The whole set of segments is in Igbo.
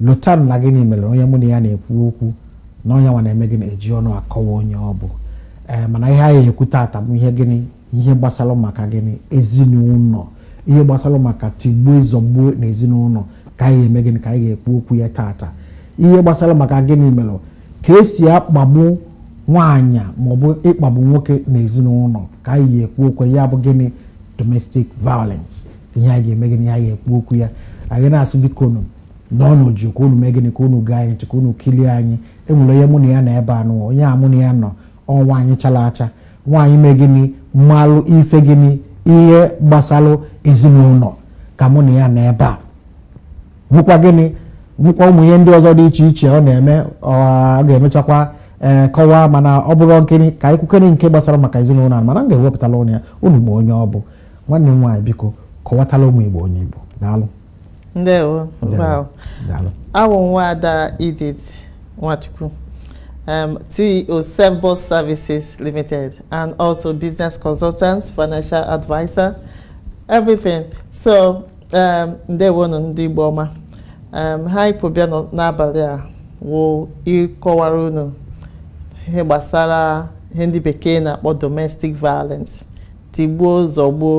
lotanụ na gịnị mere onye mụ na ya na-ekwu okwu na ọ ya nwa na-eme gịnị eji ọnụ akọwa onye ọ bụ ee mana ihe anyị ekwu taata bụ ihe gịnị ihe gbasara maka gịnị ezinụlọ ihe gbasara maka tigbuo zọgbuo na ezinụlọ ka anyị eme gịnị ka anyị ga-ekwu okwu ya taata ihe gbasara maka gịnị mere ka esi akpagbu nwaanyị maọbụ ịkpagbu nwoke na ezinụlọ ka anyị ga-ekwu okwu ya bụ gịnị domestic violence ihe anyị ga-eme gịnị anyị ga-ekwu okwu ya anyị na-asị biko nụ nọnụ jụụ ka unu mee gịnị ka unu gee anyị ntị ka unu kilie anyị enwere onye mụ na ya nọ ebe anụ onye a mụ na ya nọ ọ nwaanyị chara acha nwaanyị mee gịnị malụ ife gịnị ihe gbasalụ ezinụlọ ka mụ na ya nọ ebe a nwekwa gịnị nwekwa ụmụ ihe ndị ọzọ dị iche iche ọ na-eme ọ ga-emechakwa ee kọwaa mana ọ bụrụ nkiri ka anyị kwukene nke gbasara maka ezinụlọ a mana m ga-ewepụtala ụnụ ya unu ma onye ọ bụ nwanne m nwaanyị biko kọwatala ụmụ igbo onye ị bụ daalụ ndewo wow daalụ awụ m nwaada Edith Nwachukwu um, CEO Self-Boss Services Limited and also business consultant, financial advisor, everything. So ee ndewonu ndị Igbo ọma em ihe anyị bu bịa n'abalị a wụ ịkọwara unu ihe gbasara ihe ndị bekee na-akpọ domestic violence tigbuo zọgbuo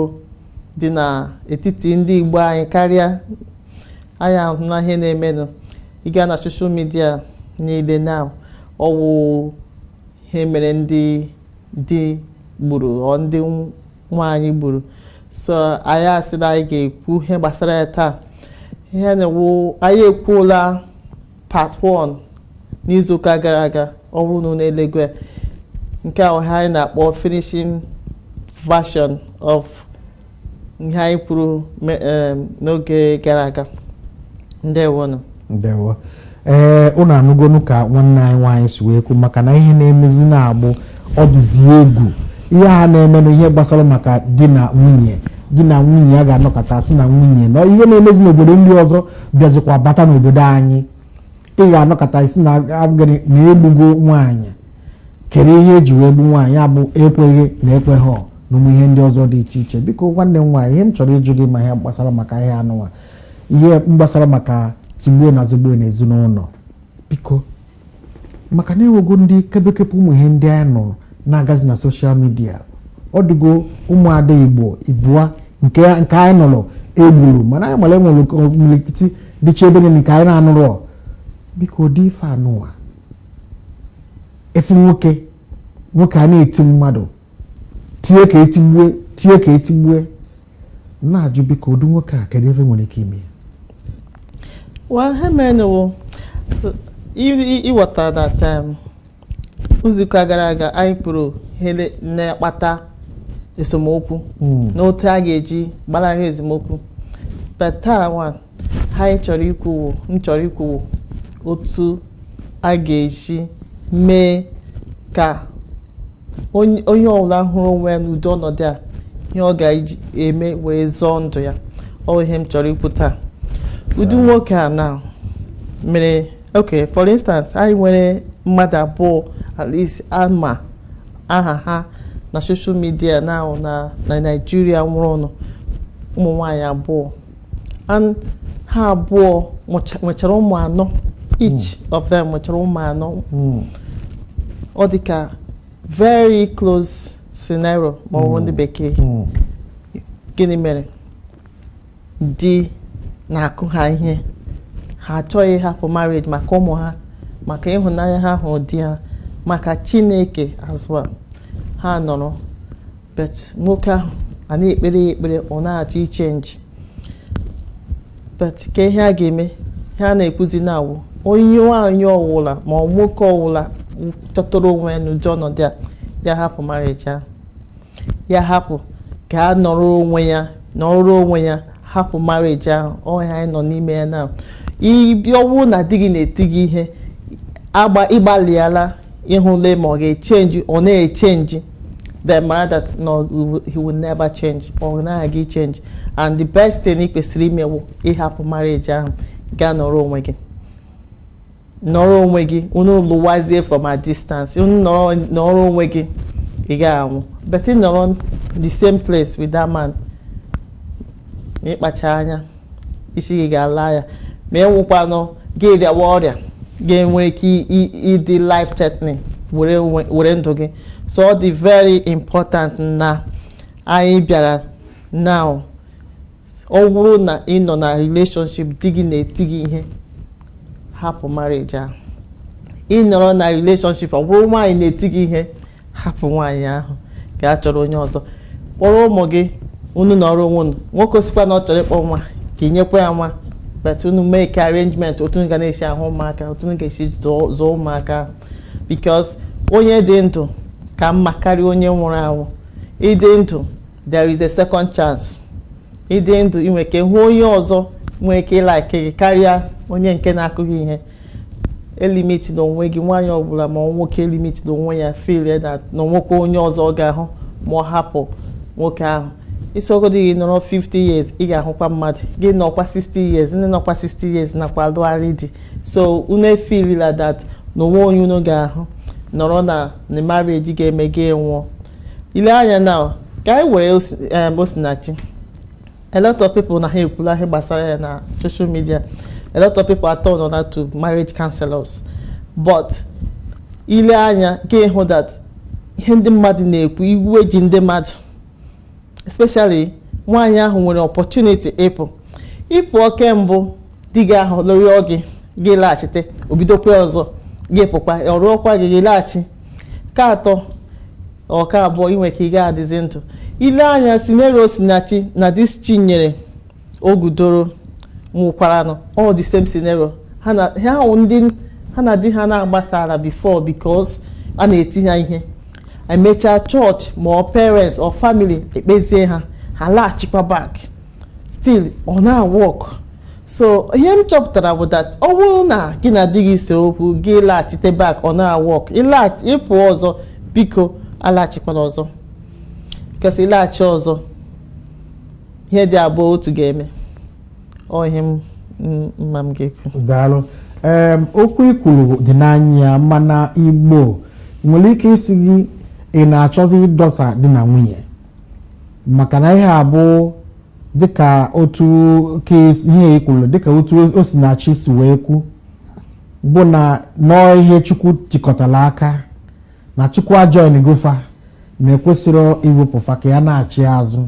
dị n'etiti ndị Igbo anyị karịa anyị ahụna ihe na-emenụ ị gaa na soshal midia niile na ọwụ ihe mere ndị di gburu ọ ndị nwaanyị gburu so anyị asị na anyị ga-ekwu ihe gbasara ya taa ihe na-ewu anyị ekwuola part 1 n'izuụka gara aga ọ bụrụ unu na-elegwe nke a wụ ihe anyị na-akpọ finishing version of ihe anyị kwuru n'oge gara aga ndewonụ ndewo ee ụnụ anụgonu ka nwanne anyị nwaanyị si wee kwu maka na ihe na-emezi na ugbu ọ dịzi egwu ihe a na-eme na ihe gbasara maka di na nwunye di na nwunye a ga-anọkata sị na nwunye na ihe na-emezi n'obodo ndị ọzọ bịazikwa bata n'obodo anyị ị ga-anọkata a sị na agịrị na egbugo nwaanyị kee ihe eji wee gbu nwaanyị ọ bụ ekweghị na ekweghị ọ na ụmụ ihe ndị ọzọ dị iche iche biko nwanne m nwaanyị ihe m chọrọ ịjụ gị ma ihe gbasara maka ihe anụnwa ihe gbasara maka tigbuo na zọgbuo na ezinụlọ biko maka na enwego ndị kebekebe ụmụ ihe ndị anyị nụrụ na-agazi na soshal midia ọ dịgo ụmụada igbo ịbụa nke nke anyị nụrụ egburu mana anyị mara enwere imilikiti dịcha ebe niile nke anyị na-anụrọ ọ. biko ụdị ife anụwa ị fụ nwoke nwoke a na-eti mmadụ tie ka etigbue na-ajụ biko ụdị nwoke a kedu ebe nwere ike ime ya well ihe menụ wụ ịghọta that um, izuụka gara aga anyị kwuru ihe na-akpata esemokwu hmm. na otu a ga-eji gbalahụ esemokwu but taa ihe anyị chọrọ ikwu m chọrọ ikwu wụ otu a ga-eji mee ka onye ọbụla hụrụ onwe ya n'ụdị ọnọdụ a ihe ọ ga-eme were zọọ ndụ ya ọ bụ ihe m chọrọ ikwu taa ụdị nwoke a na mere ok for instance anyị nwere mmadụ abụọ at least a ma aha ha na social media na na Naịjirịa nwụrụnụ ụmụ nwaanyị abụọ and ha abụọ mụcha- nwechara ụmụ anọ each of them nwechara ụmụ anọ Mm. ọ dị ka very close scenario ma ọ wụ ndị bekee Mm. gịnị mere di na-akụ ha ihe ha achọghị ịhapụ marriage maka ụmụ ha maka ịhụnanya ha hụrụ di ha maka Chineke as well ha nọrọ but nwoke ahụ a na-ekpere ya ekpere ọ na-achọ ichenji but kee ihe a ga-eme ihe a na-ekwuzi now wụ onye nwaanyị ọwụla ma ọ nwoke ọwụla chọtara onwe ya n'ụdị ọnọdụ a ya hapụ marriage ahụ ya hapụ gaa nọrọ onwe ya hapụ marriage ahụ ọ ihe anyị nọ n'ime ya now ọ wụ na di gị na-eti gị ihe ị gbalịala ịhụle ma ọ ga-echenji ọ na-echenji then mara that no he will never change ọ naghị change and the best thing ị kwesịrị ime wụ ịhapụ marriage ahụ gaa nọrọ onwe gị nọrọ onwe gị unu lụwazie from a distance ị nọrọ onwe gị ị gaghị anwụ but ị nọrọ the same place with that man ịkpacha anya isi gị ga-ala ya ma i nwekwanụ ike ịrịawa ọrịa ga-enwere ike ịdị life threatening were ndụ gị so ọ dị very important na anyị bịara now ọ bụrụ na ị nọ na relationship di gị na-eti gị ihe hapụ marriage ahụ ị nọrọ na relationship ọ bụrụ nwaanyị na-eti gị ihe hapụ nwaanyị ahụ gaa chọrọ onye ọzọ kpọrọ ụmụ gị unu nọrọ onwe unu nwoke ọ sịkwa na ọ chọrọ ịkpọ nwa ka ị nyekwa ya nwa but unu make arrangement otu unu ga na-esi ahụ ụmụaka otu unu ga-esi zụọ ụmụaka ahụ because onye dị ndụ ka mma karịa onye nwụrụ anwụ ịdị ndụ there is a second chance ịdị ndụ inwe ike hụ onye ọzọ nwere ike ịlike gị karịa onye nke na-akụ gị ihe elimitina onwe gị nwaanyị ọbụla ma nwoke elimitina onwe ya feel na onwekwa onye ọzọ ọ ga-ahụ ma ọ hapụ nwoke ahụ ọ sọgodu gị nọrọ 50 years ị ga-ahụkwa mmadụ gị nọkwa 60 years ndị nọkwa 60 years nakwa alụgharị di so unu efeelila that na onwe onye unu ga-ahụ nọrọ na na marriage ga-eme gị nwụọ ile anya now ka anyị were Osinachi a lot of people na ha ekwula ihe gbasara ya na social media a lot of people are turned on to marriage counselors but ile anya ka ịhụ that ihe ndị mmadụ na-ekwu iwe ji ndị mmadụ especially nwaanyị ahụ nwere opportunity ịpụ ị pụọ ke mbụ di gị ahụ lụrịọ gị gị laghachite obidokwa ọzọ gị pụkwa ọ rịọkwa gị gị laghachi ka atọ ọ ka abụọ inwe ike ị ga-adịzi ndụ ile anya scenario Osinachi na this Chinyere Ogudoro nwụkwaranụ all the same scenario ha na ha ahụ ndị ha na di ha na agbasaala before because a na-eti ha ihe emechaa church ma ọ parents or family ekpezie ha ha laghachikwa back still ọ na-work so ihe m chọpụtara bụ that ọ bụrụ na gị na di gị see okwu gị laghachite back ọ na-work ịpụ ọzọ biko alaghachikwana ọzọ because ịlaghachi ọzọ ihe dị abụọ otu ga-eme ọ ihe m ma m ga-ekwu daalụ okwu ikwuru dị n'anya mana Igbo nwere ike ịsị gị ị na-achọzi ịdọsa di na nwunye maka na ihe a bụ dịka otu ihe ikwuru dịka otu Osinachi si wee kwu bụ na nọọ ihe Chukwu tikọtara aka na Chukwu ajoingo fa na ekwesịrị iwepụ fa ka ya nachi azụ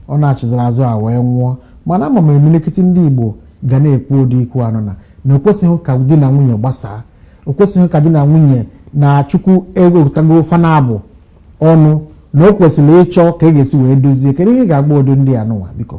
ọ nachiziri azụ a wee nwụọ mana ama m imirikiti ndị Igbo ga na-ekwu ụdị okwu anụnwa na o kwesịghị ka di na nwunye gbasaa o kwesịghị ka di na nwunye na Chukwu ewekọtago fa na abụọ ọnụ na o kwesịrị ịchọ ka a ga-esi wee dozie kedu ihe ị ga-agwa ụdị ndị anụnwa biko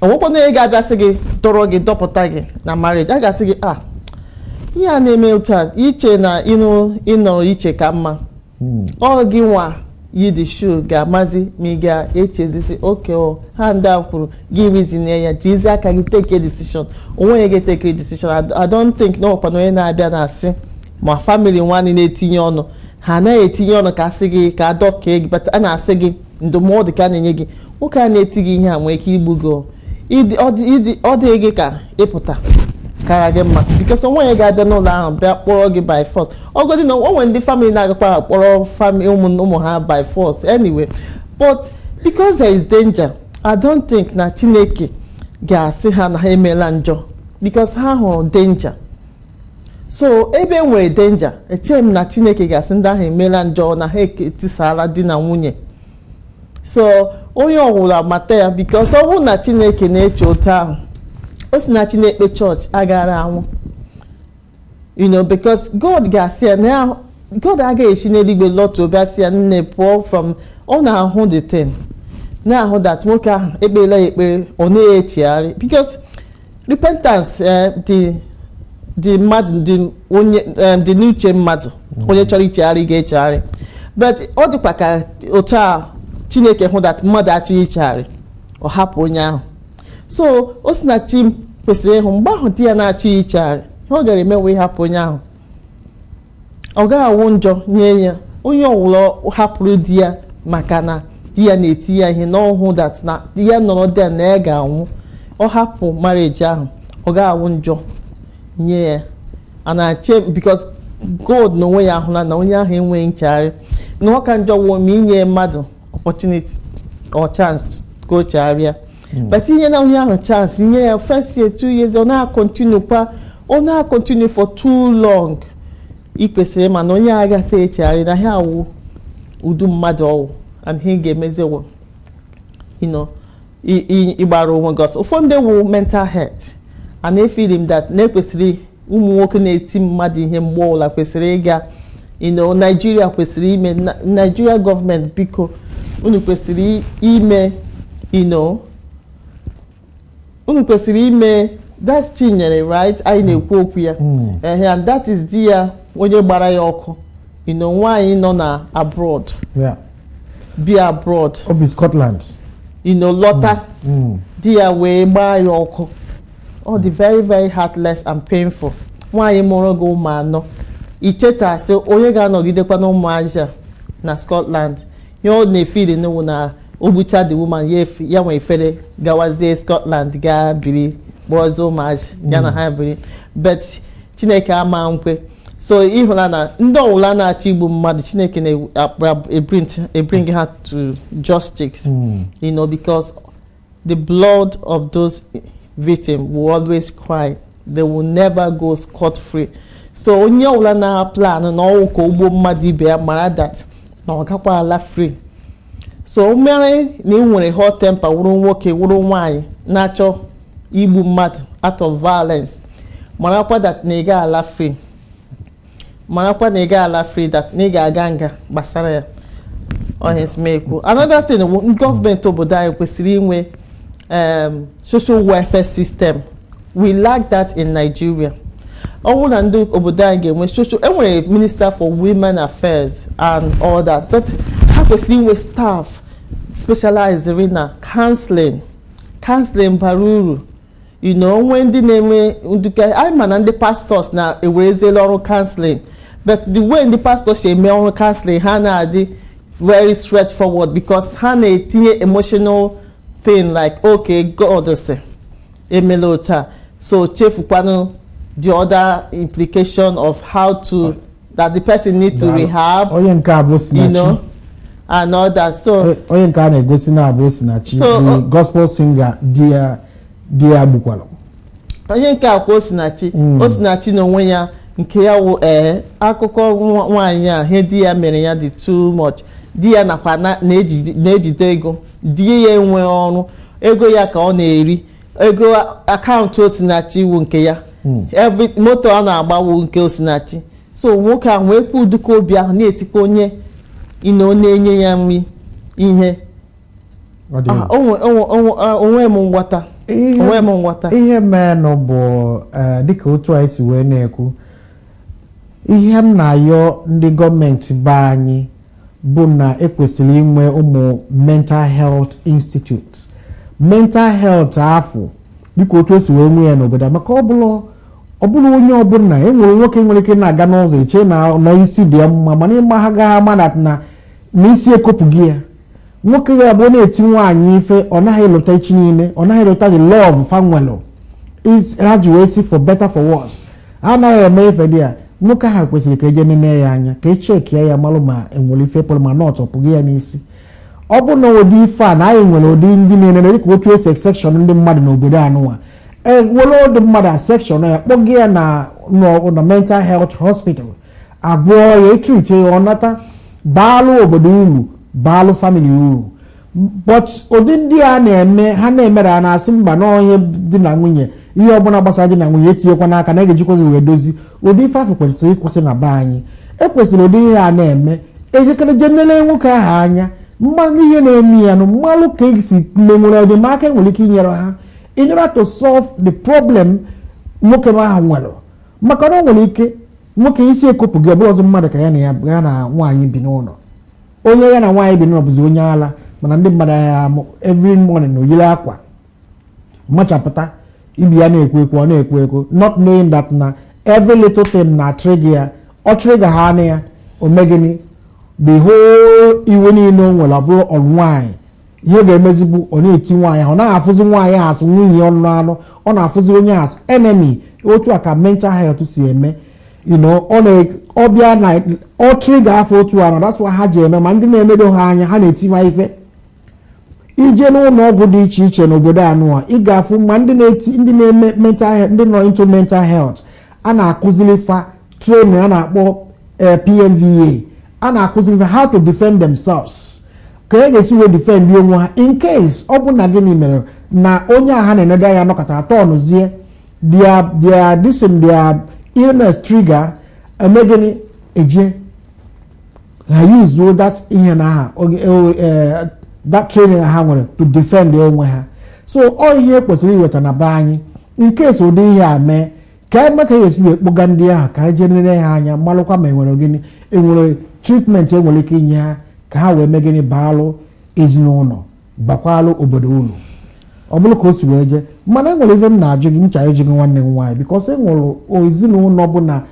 onwekwa onye ga-abịa sị gị dọrọ gị dọpụta gị na marriage a ga-asị gị a ah, ihe a na-eme otu a iche na ịnụ ịnọrọ iche ka mma hmm. ọ gịnwa yi the shoe ga-amazi ma ị ga-echezisi okay ihe a ndị a kwuru gị reasonie ya jizi aka gị take decision onwe gị gị take decision I don't think na ọkwa na onye na-abịa na-asị ma family nwanne na-etinye ọnụ ha anaghị etinye ọnụ ka asị gị ka adọkee gị but a na-asị gị ndụmọdụ ka a na-enye gị nwoke a na-eti gị ihe a nwere ike igbu gị ọ dị gị ka ịpụta kara gị mma because o nweghị onye ga-abịa n'ụlọ ahụ bịa kpọrọ gị by force ọgodi na o nwere ndị family na-agakwa akpọrọ ụmụ ha by force anyway but because there is danger i don't think na chineke ga-asị ha na ha emeela njọ because ha hụrụ danger so ebe e nwere danger echeghị m na chineke ga-asị ndị ahụ emeela njọ na ha etisaala di na nwunye so onye ọwụla mata ya because ọ bụrụ na chineke na-eche otu ahụ Osinachi na-ekpe church agara anwụ you know because god ga-asị ya na god agaghị esi n'eluigwe lọtuo bịa sị ya nne pụọ from ọ na-ahụ the thing na-ahụ that nwoke ahụ ekpeela ya ekpere ọ na-echegharị because repentance eh, dị dị mmadụ dị onye eh, dị n'uche mmadụ onye chọrọ ichegharị ga-echegharị but ọ dịkwa ka otu a chineke hụ that mmadụ achọghị ichegharị ọ hapụ onye ahụ so Osinachi kwesịrị ịhụ mgbe ahụ di ya na-achọghị ichegharị ihe ọ gara eme wụ ịhapụ onye ahụ ọ gaghị awụ njọ nye ya onye ọwụla hapụrụ di ya maka na di ya na-eti ya ihe na ọ hụ that na ya nọrọ there na ya ga-anwụ ọ hapụ marriage ahụ ọ gaghị awụ njọ nye ya a na-ache because God n'onwe ya ahụla na onye ahụ enweghị nchegharị na ọ ka njọ wụ ma i nye mmadụ opportunity or chance ka o chegharịa hmm. but i nyena onye ahụ chance i nye ya first year two years ọ na-akọntinu kwa ọ na-akọntinu for too long ị kwesịrị ịma na onye a agaghị echegharị na ihe a wụ ụdị mmadụ ọ wụ and ihe ị ga-emezi wụ ịgbara onwe gị ọsọ ụfọdụ ndị wụ mental health and efili m that na e kwesịrị ụmụ nwoke na-eti mmadụ ihe mgbe ọbụla kwesịrị ịga you know Nigeria kwesịrị ime Nigeria government biko unu kwesịrị ime you know unu kwesịrị ime that's Chinyere right anyị na-ekwu okwu ya hmm. ehe and that is di ya onye gbara ya ọkụ you know nwaanyị nọ na abroad bi abroad o bi Scotland you know lọta hmm. Hmm. di ya wee gbaa ya ọkụ ọ dị very very heartless and painful nwaanyị mụụrụ gị ụmụ anọ ichetasị onye ga-anọgidekwa na ụmụazị a na Scotland ihe ọ na-efili nụ wụ na o gbucha the woman ya efe- ya ewee fere gawazie Scotland gaa biri kpọrọzie ụmụazị ya na ha biri but Chineke ama nkwe so ị hụla na ndị ọwụla na-achọ igbu mmadụ Chineke na-ebring ha to justice Mm. you know because The blood of those victims will always cry. They will never go scot free. So onye ọwụla na plan na ọnwụ ka o gbuo mmadụ ibe ya mara that na ọ gakwa ala free. So o mere na ị nwere hot temper wụrụ nwoke wụrụ nwaanyị na-achọ igbu mmadụ out of violence marakwa that na ị ga ala free. marakwa na ị ga ala free that na ị ga-aga nga gbasara ya ọ ihe si m ekwu another thing gọọmenti obodo anyị kwesịrị inwe um, social welfare system we lack that in Nigeria ọ bụrụ na ndị obodo anyị ga-enwe social e nwere minister for women affairs and all that but ha kwesịrị inwe staff specialized na counseling counseling bara uru you know o nwee ndị na-eme nduke anyị ma na ndị pastors na-ewerezila ọrụ counseling but the way ndị pastors si eme ọrụ counseling ha na-adị very straightforward because ha na-etinye emotional thing like okay God sị emela otu a so chefukwanụ the other implication of how to that the person need to Daalụ. rehab onye nke a bụ you osinachi know and all that so O- onye nke a na-egosi na abụ osinachi So, the ọ- gospel singer di ya di ya gbukwara onye nke a kwa osinachi Mm. osinachi na onwe ya nke ya wụ ee akụkọ nwa- nwaanyị a ihe di ya mere ya dị too much di ya nakwa na- na-eji- na-ejide ego di ya enwe ọrụ ego ya ka ọ na-eri ego account Osinachi wụ nke ya hmm. every moto ọ na-agba wụ nke Osinachi so nwoke ahụ nwekwuo ụdịka obi ahụ na-etikwa onye ina ọ na-enye ya nri ihe ah, onwe m nghọta onwe m nghọta ihe menụ bụ eh, dịka otu anyị si wee na-ekwu ihe m na-ayọ ndị gọọmenti be anyị bụ na e kwesịrị inwe ụmụ mental health institute mental health afụ dịka otu e si wee nwee ya n'obodo maka ọ bụrụ ọ bụrụ onye ọbụla e nwere nwoke nwere ike na-aga n'ụzọ e chee na na isi dị ya mma mana ị ma ha gaghị ama na na isi ekopụgo ya nwoke ya bụ na-eti nwaanyị ife ọ naghị elota echi niile ọ naghị elota the love fa nwelụ ha ji wee sị for better for worse a naghị eme ife dị ya nwoke ahụ kwesịrị ka e jee nene ya anya ka e chekie ya malụ ma e nwere ife pụrụ ma nut ọ pụgo ya n'isi ọ bụ na ụdị ife a na anyị nwere ụdị ndị na-enene dịka otu e si section ndị mmadụ n'obodo a nụnwa e were ụdị mmadụ a section ya kpọga ya na na mental health hospital a gwọọ ya e treat ya ọ nata baalụ obodo uru baalụ family uru but ụdị ndị a na-eme ha na-emere a na-asị mba na onye di na nwunye ihe ọbụla gbasara di na nwunye etinyekwana aka na e ga-ejikwa gị wee dozi ụdị ife afụ kwesịrị ịkwụsị na be anyị e kwesịrị ụdị ihe a na-eme e jikere je nele nwoke ahụ anya malụ ihe na-eme ya na malụ ka e si ma e nwere ụdị aka e nwere ike inyere ha in order to solve the problem nwoke ahụ nwere maka na o nwere ike nwoke isi ekopụgo ọ bụrọzi mmadụ ka ya na ya na nwaanyị bi n'ụlọ onye ya na nwaanyị bi n'ụlọ bụzi onye ala mana ndị mmadụ ahụ ya every morning na o yiri akwa machapụta ị bịa na-ekwu okwu ọ na-ekwu okwu not knowing that na every little thing na-trigger ya ọ trigger haanụ ya o mee gịnị the whole iwe niile o nwere ọ bụrụ on nwaanyị ihe ga-emezi bụ ọ na-eti nwaanyị ahụ ọ naghị afụzi nwaanyị as nwunye ọ na-anụ ọ na-afụzi onye as enemy otu a ka mental health si eme ọ bịa na ọ trigger fa otu a na that's why ha ji eme ma ndị na-enedo ha anya ha na-eti fa ife i je n'ụlọ ọgwụ dị iche iche n'obodo anụwa ị ga-afụ ma ndị na-eme mental ndị nọ into mental health a na-akụziri fa training a na-akpọ eh, PMVA a na-akụziri how to defend themselves ka e ga-esi wee defend onwe ha in case ọ bụ na gịnị mere na onye a ha na-enedo anya nọkatara tọnụzie their their this thing their illness trigger e mee gịnị e je ha yuzuo that ihe na ha eh, that training ha nwere to defend onwe ha so ọ ihe kwesịrị iweta na be anyị in case ụdị ihe a mee ka anyị ma ka a ya-esi wee kpọga ndị ahụ ka anyị je nere ha anya malụkwa ma e nwere gịnị e nwere treatment e nwere ike inye ha ka ha wee mee gịnị baalụ ezinụlọ bakwalụ obodo ulu ọ bụrụ ka o si wee jee mana e nwere ife m na-ajụ gị m chọ ịjụ gị nwanne m nwaanyị because e nwere ezinụlọ bụ na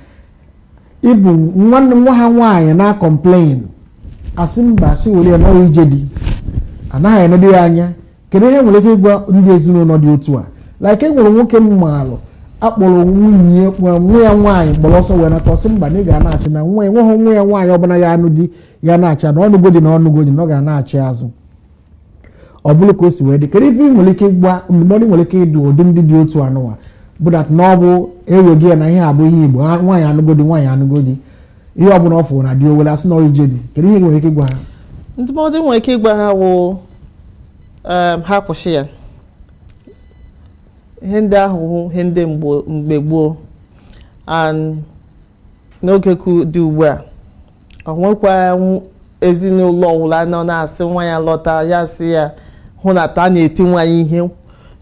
ịbụ nwanne nwa ha nwaanyị na-acomplain a sị mba a sị were ya na ọ ya ije di anaghị enedo ya anya kedu ihe i nwere ike ịgwa ndị ezinụlọ dị otu a like e nwere nwoke m maalụ akpọrọ nwunye nwa ya nwaanyị gbara ọsọ wee nata ọ sị mba na ị ga-anachi na nwa enweghị nwa ya nwaanyị ọbụla ya-anụ di ya-anachi na ọ nụgo di na ọ nụgo di na ọ ga-anachi azụ ọ bụrụ ka o si wee dị kedu ife i nwere ike ịgwa ndụmọdụ i nwere ike ịdụ ụdị ndị dị otu anụwa bụ that na ọ bụ e wego ya na ihe a bụ ihe Igbo nwaanyị anụgo di nwaanyị anụgo di ihe ọbụla ọ fụrụ na di o wele a sị na ọ ije di kedu ihe i nwere ike ịgwa ha ndụmọdụ m nwere ike ịgwa ha wụ um, ha kwụsị ya ihe ndị ahụ wụ ihe ndị mgbe gboo n'oge dị ugbu a o nwekwa ezinụlọ ọwụla nọ na-asị nwa ya lọta ya sị ya hụ na ta na-eti nwa ya ihe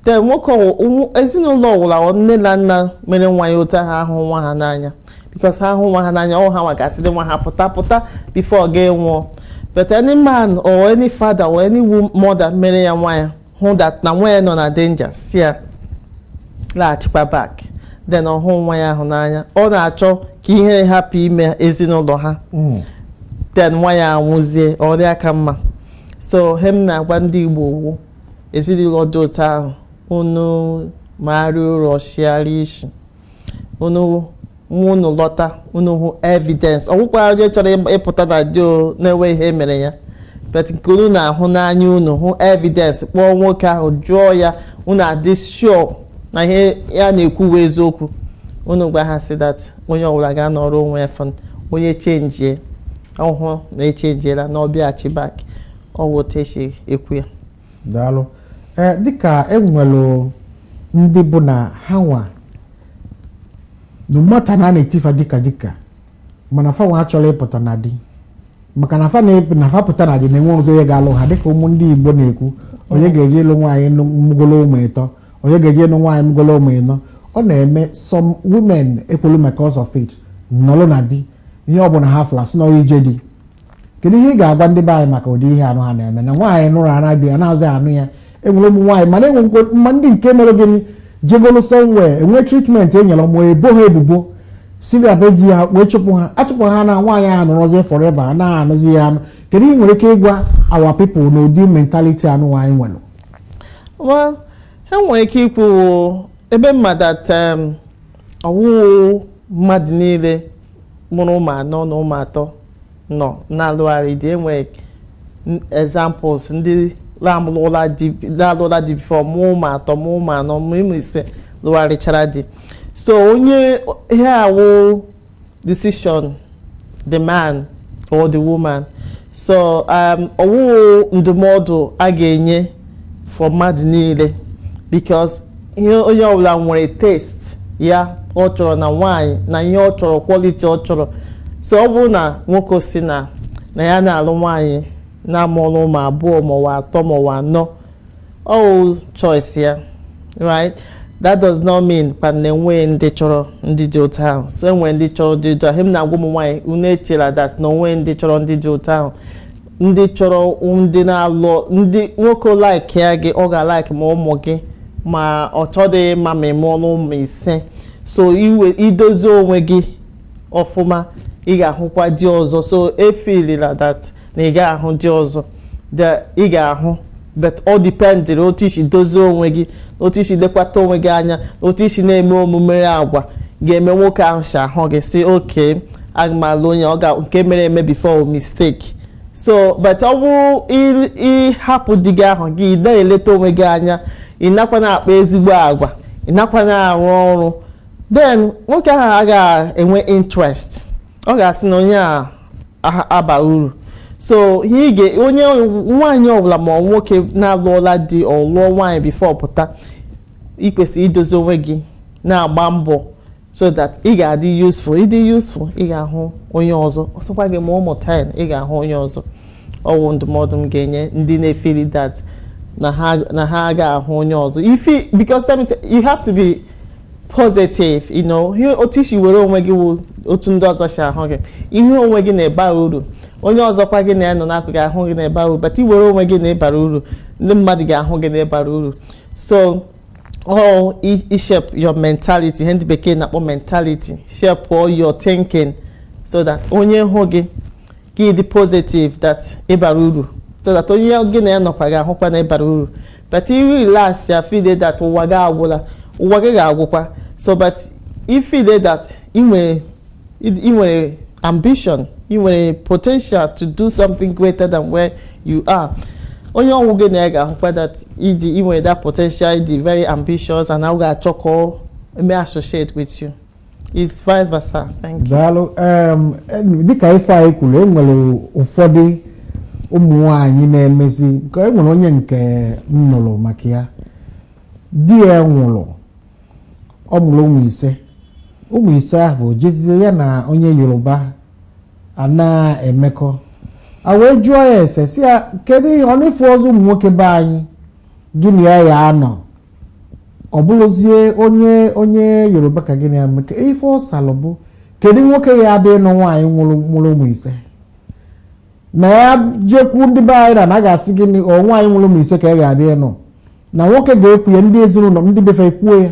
Then nwoke ezinụlọ ọwụla nne na nna mere nwa ya otu ha ahụ nwa ha n'anya because ha hụ nwa ha n'anya ọ ha nwa ga-asị dị nwa ha pụta pụta before ọ ga-anwụọ but any man or any father or any mother mere ya nwa ya hụ that na nwa ya nọ na danger sị ya laghachikwa back then ọ hụ nwa ya ahụ n'anya ọ na-achọ ka ihe hapụ ime ezinụlọ ha hmm. then nwa ya anwụzie ọrịa ka mma so ihe m na-agwa ndị Igbo wụ ezinụlọ dị otu ahụ unu maara ụrọ chịara isi unu nwa unu lọta unu hụ evidence ọ wụkwa onye chọrọ ịgba- ịpụta na di ọ na-enwe ihe mere ya but nke unu na-ahụ n'anya unu hụ evidence kpọọ nwoke ahụ jụọ ya unu adị sure na ihe ya na-ekwu bụ eziokwu unu gwa ha sị that onye ọbụla ga-anọrọ onwe ya fọn onye chenjie ọ hụ na e chenjiela na ọ bịaghachi back ọwụ otu e si ekwu ya daalụ ee eh, dịka enwelụ ndị bụ na ha nwa mata na a na-eti fa dịka dịka mana fa nwa achọrọ ịpụta na di maka na fa na fa pụta na di na-enwe ọzọ onye ga-alụ ha dịka ụmụ ndị Igbo na-ekwu onye ga-eje ịlụ nwaanyị mụgolo ụmụ ịtọ onye ga-eje ịlụ nwaanyị mụgolo ụmụ ịnọ ọ na-eme some women ekwelu because of it nọlụ na di ihe ọ bụla ha fụlụ a sị na ọ ije di kedu ihe ị ga-agwa ndị be anyị maka ụdị ihe anụ ha na-eme na nwaanyị nụrụ ara di ya na-azị anụ ya enwere ụmụ nwaanyị mana enwekwo mma ndị nke mere gịnị jegolo somewhere enwe treatment e nyere ma ebo ha ebubo si na be di ya wee chụpụ ha achụpụ ha na nwaanyị ahụ nọrọzie forever a naghị anụzi ya anụ kedu ihe i nwere ike ịgwa our people na ụdị mentality anụ nwaanyị nwere well enwere ike ikwu ebe mmadụ at um, ọwụhụ mmadụ niile mụrụ ụmụ anọ na ụmụ atọ nọ na-alụgharị di enwere examples ndị na-alụla di before mụọ ụmụ atọ mụọ ụmụ anọ mụọ ụmụ ise lụgharịchara di so onye ihe a wụ decision the man or the woman so um, ọwụhụ ndụmọdụ a ga-enye for mmadụ niile because ihe onye ọbụla nwere taste ya ọ chọrọ na nwaanyị na ihe ọ chọrọ quality ọ chọrọ so ọ bụrụ na nwoke sị na na ya na-alụ nwaanyị na-amụrụ ụmụ abụọ ma ọ wụ atọ ma ọ wụ anọ ọ choice ya right that does not mean kwa na enweghị ndị chọrọ ndị dị otu ahụ so enwere ndị chọrọ ndị dị otu ahụ ihe m na-agwa ụmụ nwaanyị unu echela that na onweghị ndị chọrọ ndị dị otu ahụ ndị chọrọ ndị na-alụ di nwoke likea gị ọ ga-alike ma ụmụ gị ma ọ chọdị ma ma ị mụọnụ ụmụ ise so idozi onwe gị ọfụma ị ga-ahụkwa di ọzọ so efilila that na ị ga-ahụ di ọzọ ị ga-ahụ but ọ dipendịrị otu i si dozie onwe gị otu i si lekwata onwe gị anya otu i si na-eme omume agwa ga-eme nwoke ahụ si ahụ gị sị okay aga m alụ onye ọ ga nke mere eme before mistake so but ọ bụrụ ị hapụ di gị ahụ gị na-eleta onwe gị anya ị nakwa na-akpa ezigbo agwa ị nakwa na-arụ ọrụ then nwoke ahụ agaghị enwe interest ọ ga-asị na onye a aha- aba uru so ihe ị ga onye nwaanyị ọbụla ma nwoke na-alụọla di ọ lụọ nwaanyị before pụta ị kwesịrị idozi onwe gị na-agba mbọ so that ị ga-adị useful ị dị useful ị ga-ahụ onye ọzọ ọ sọkwa gị mụọ ụmụ 10 ị ga-ahụ onye ọzọ ọ wụ ndụmọdụ m ga-enye ndị na-efeli that na ha na ha ga-ahụ onye ọzọ ifi because let me tell- you have to be positive you know ihe otu i si were onwe gị wụ otu ndị ọzọ si ahụ gị ị hụ onwe gị na ị ba uru onye ọzọkwa gị na ya nọ n'akụkụ ga-ahụ gị na ị ba uru but i were onwe gị na ị bara uru ndị mmadụ ga-ahụ gị na ị bara uru so all shape your mentality ihe ndị bekee na-akpọ mentality shape all your thinking so that onye hụ gị gị dị positive that ị bara uru so that onye gị na ya nọkwa ga-ahụkwa na ị bara uru but if you relax ya feel that ụwa gị agwụla ụwa gị ga-agwụkwa so but ị feel that ị nwere ị nwere ambition ị nwere potential to do something greater than where you are onye ọ wụ gị na ya ga-ahụkwa that ị dị ị nwere that potential ị dị very ambitious and na ọ ga-achọ ka ọ mee associate with you it's vice versa. Thank you. daalụ um, em, dịka ife anyị kwuru e nwere ụfọdụ ụmụ nwanyị na-emezi ka e nwere onye nke m nụrụ maka ya di ya nwụrụ ọ mụrụ ụmụ ise ụmụ ise ahụ jezie ya na onye yoruba a na-emekọ a wee jụọ ya ese sị ya kedu ihe ọ na ị fụrọzị ụmụ nwoke be anyị gị na ya ya-anọ ọ bụrụzie onye onye yoruba ka gị na ya mekọ ife ọ salụ bụ kedu nwoke ya-abịa ịnụ nwaanyị mụrụ mụrụ ụmụ ise na ya jekwu ndị be anyị na na a ga-asị gị na ọ nwaanyị mụrụ ụmụ ise ka ya ga-abịa ịnụ na nwoke ga-ekwu ya ndị ezinụlọ ndị be fa ekwuo ya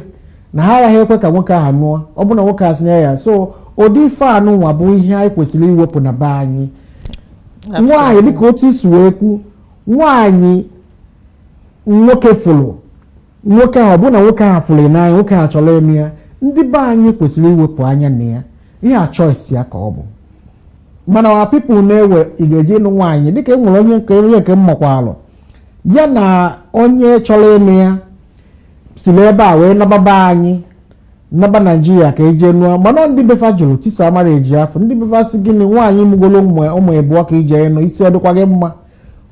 na ha agaghị ekwe ka nwoke ahụ nụọ ọ bụ na nwoke a sị nye ya so ụdị ife anụ nwa bụ ihe anyị kwesịrị iwepụ na be anyị nwaanyị dịka otu i si wee kwu nwaanyị nwoke fụrụ nwoke ahụ ọbụna nwoke ahụ fụrụ n'anya nwoke ahụ chọrọ eme ya ndị be anyị kwesịrị iwepụ anya na ya ihe a choice ya ka ọ bụ mana our people na-ewe ị ga-eje ịlụ nwaanyị dịka e nwere onye nke onye nke mmakwa alụ ya na onye chọrọ ịnụ ya si n'ebe a wee naba be anyị naba Naijiria ka o je nụọ mana ndị be fa jụrụ tisaa marriage afụ ndị be fa sị gịnị nwaanyị mụgolo ụmụ ịbụọ ka i je ịnụ isi ọ dịkwa gị mma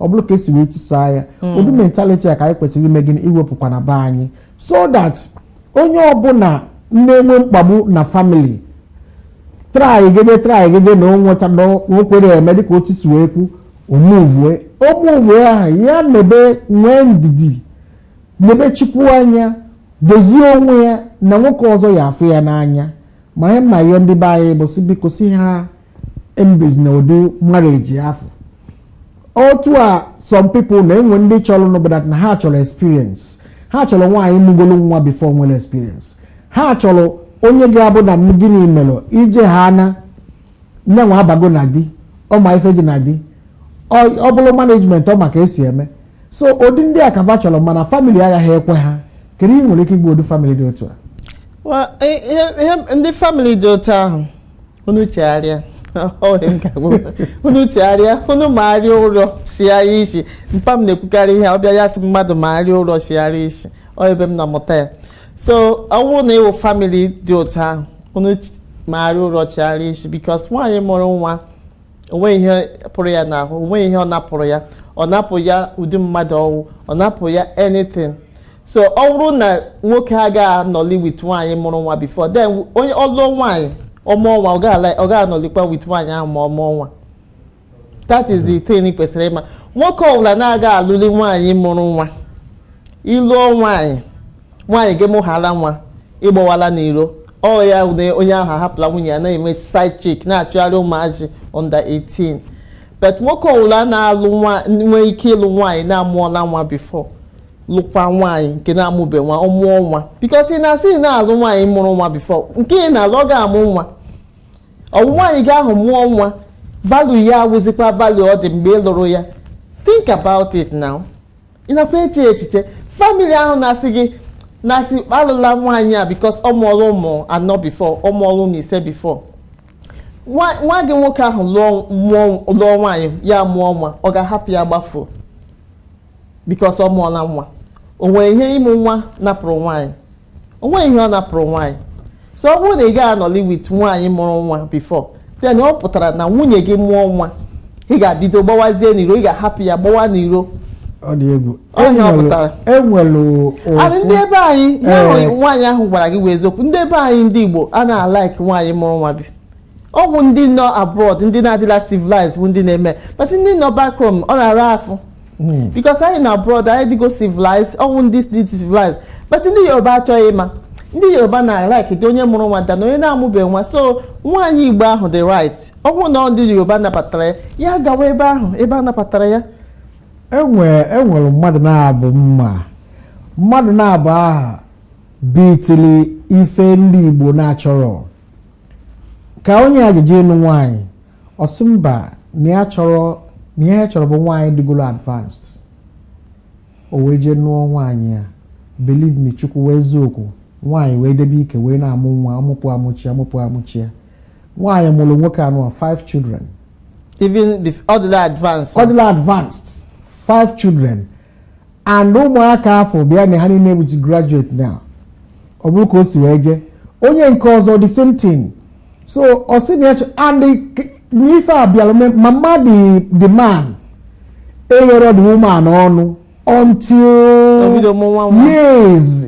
ọ bụrụ ka esi wee tisaa ya hmm. ụdị mentality a ka anyị kwesịrị ime gịnị iwepụkwa na be anyị so that onye ọbụla na-enwe mkpagbu na family traigede traigede na onweta na okwere eme dịka otu si wee kwu omuvue omuvue ahụ ya mebe nwee ndidi nebe Chukwu anya dozie onwe ya na nwoke ọzọ ya-afụ ya n'anya mara mma ihe ndị be anyị bụ sị biko sị ha emebizina ụdị marriage afụ otu a some people na-enwe ndị chọrọ n'obodo that na ha chọrọ experience ha chọrọ nwaanyị mụgolo nwa before nwere experience ha chọrọ onye ga-abụ na gịnị mere ije ha na nyanwa abago na di ọ ma ife dị na di ọ bụrụ management ọ ma ka esi eme so ụdị ndị a ka ba chọrọ mana family agaghị ekwe ha kedu ihe i nwere ike ịgwa ụdị family dị otu a ihe ndị family dị otu ahụ unu chegharịa unu chegharịa unu magharịa ụrọ sigharịa isi mpa m na-ekwukarị ihe ọ bịa ya sị mmadụ magharịa ụrọ sigharịa isi ọ ebe m nọ mụta ya so ọ bụrụ na ị wụ family dị otu ahụ unu magharịa ụrọ chigharịa isi because nwaanyị mụrụ nwa o nweghị ihe pụrụ ya n'ahụ o nweghị ihe ọ napụrụ ya ọ napụrụ ya ụdị mmadụ ọ wụ ọ napụrụ ya anything so ọ bụrụ na nwoke agaghị anọli with nwaanyị mụrụ nwa before then onye ọ lụọ nwaanyị ọ mụọ nwa ọ gaghị anọlikwa with nwaanyị ahụ ma ọ mụọ nwa that is the thing i kwesịrị ịma nwoke ọbụla na-agaghị alụli nwaanyị mụrụ nwa ị lụọ nwaanyị nwaanyị gị mụhala nwa ị gbawala n'iro ọ ya na onye ahụ ahapụla nwunye ya na-eme side chick na-achụgharị ụmụazị under 18 but nwoke ọwụla na-alụ nwa nwee ike ịlụ nwaanyị na-amụọla nwa before lụkwa nwaanyị nke na-amụbe nwa ọ mụọ nwa because ị na-asị ị na-alụ nwaanyị mụrụ nwa before nke ị na-alụ ọ ga-amụ nwa ọ wụ nwaanyị gị ahụ mụọ nwa value ya awụzikwa value ọ dị mgbe ị lụrụ ya think about it now ị nakwa eche echiche family ahụ na-asị gị alụla nwaanyị a because ọ mụọla ụmụ anọ before ọ mụọla ụmụ ise before nwa gị nwoke ahụ lụọ nwaanyị ya mụọ nwa ọ ga-ahapụ ya gbafuo because ọ mụọla nwa o nwere ihe ịmụ nwa napụrụ nwaanyị o nweghị ihe ọ napụrụ nwaanyị so ọ bụrụ na ị gaghị anọli with nwaanyị mụrụ nwa before then ọ pụtara na nwunye gị mụọ nwa ị ga-abido gbawazie n'iro ị ga-ahapụ ya gbawa n'iro ọ dị egwu onye ọ pụtara enwere adị ndị ebe anyị ihe nwaanyị ahụ gwara gị wụ eziokwu ndị ebe anyị ndị Igbo a na-alike nwaanyị mụrụ nwa bi ọ bụ ndị nọ abroad ndị na-adịla civilized bụ ndị na-eme but ndị nọ back home ọ na-ara afụ hmm. because anyị na abroad anyị dịgo civilized ọ bụ ndị dị civilized but ndị yoruba achọghị ịma ndị yoruba na-alike dị onye mụrụ nwa na onye na-amụbeghị nwa so nwaanyị igbo ahụ dị right ọ bụrụ na ndị yoruba nabatara ya ya gawa ebe ahụ ebe a nabatara ya enwere e mmadụ na-abụ mma mmadụ na-abụ aha bitili ife ndị igbo na-achọrọ ka onye a ga-eje ịnụ nwaanyị ọ sị mba na ya chọrọ na ihe ya chọrọ bụ nwaanyị dịgolo advanced o wee jee nụọ nwaanyị ya believe me chukwu wụ eziokwu nwaanyị wee debe ike wee na-amụ nwa amụpụ amụchi amụpụ amụchi ya nwaanyị mụrụ nwoke anụnwa five children even though ọ dịla advanced ọ dịla advanced five children and ụmụaka afụ bịa na ha niile bụ graduate now ọ bụrụ ka o si wee jee onye nke ọzọ the same thing so ọ sị na ya chọ and n'ife a bịara ma mmadụ the man egherọ the woman ọnụ until years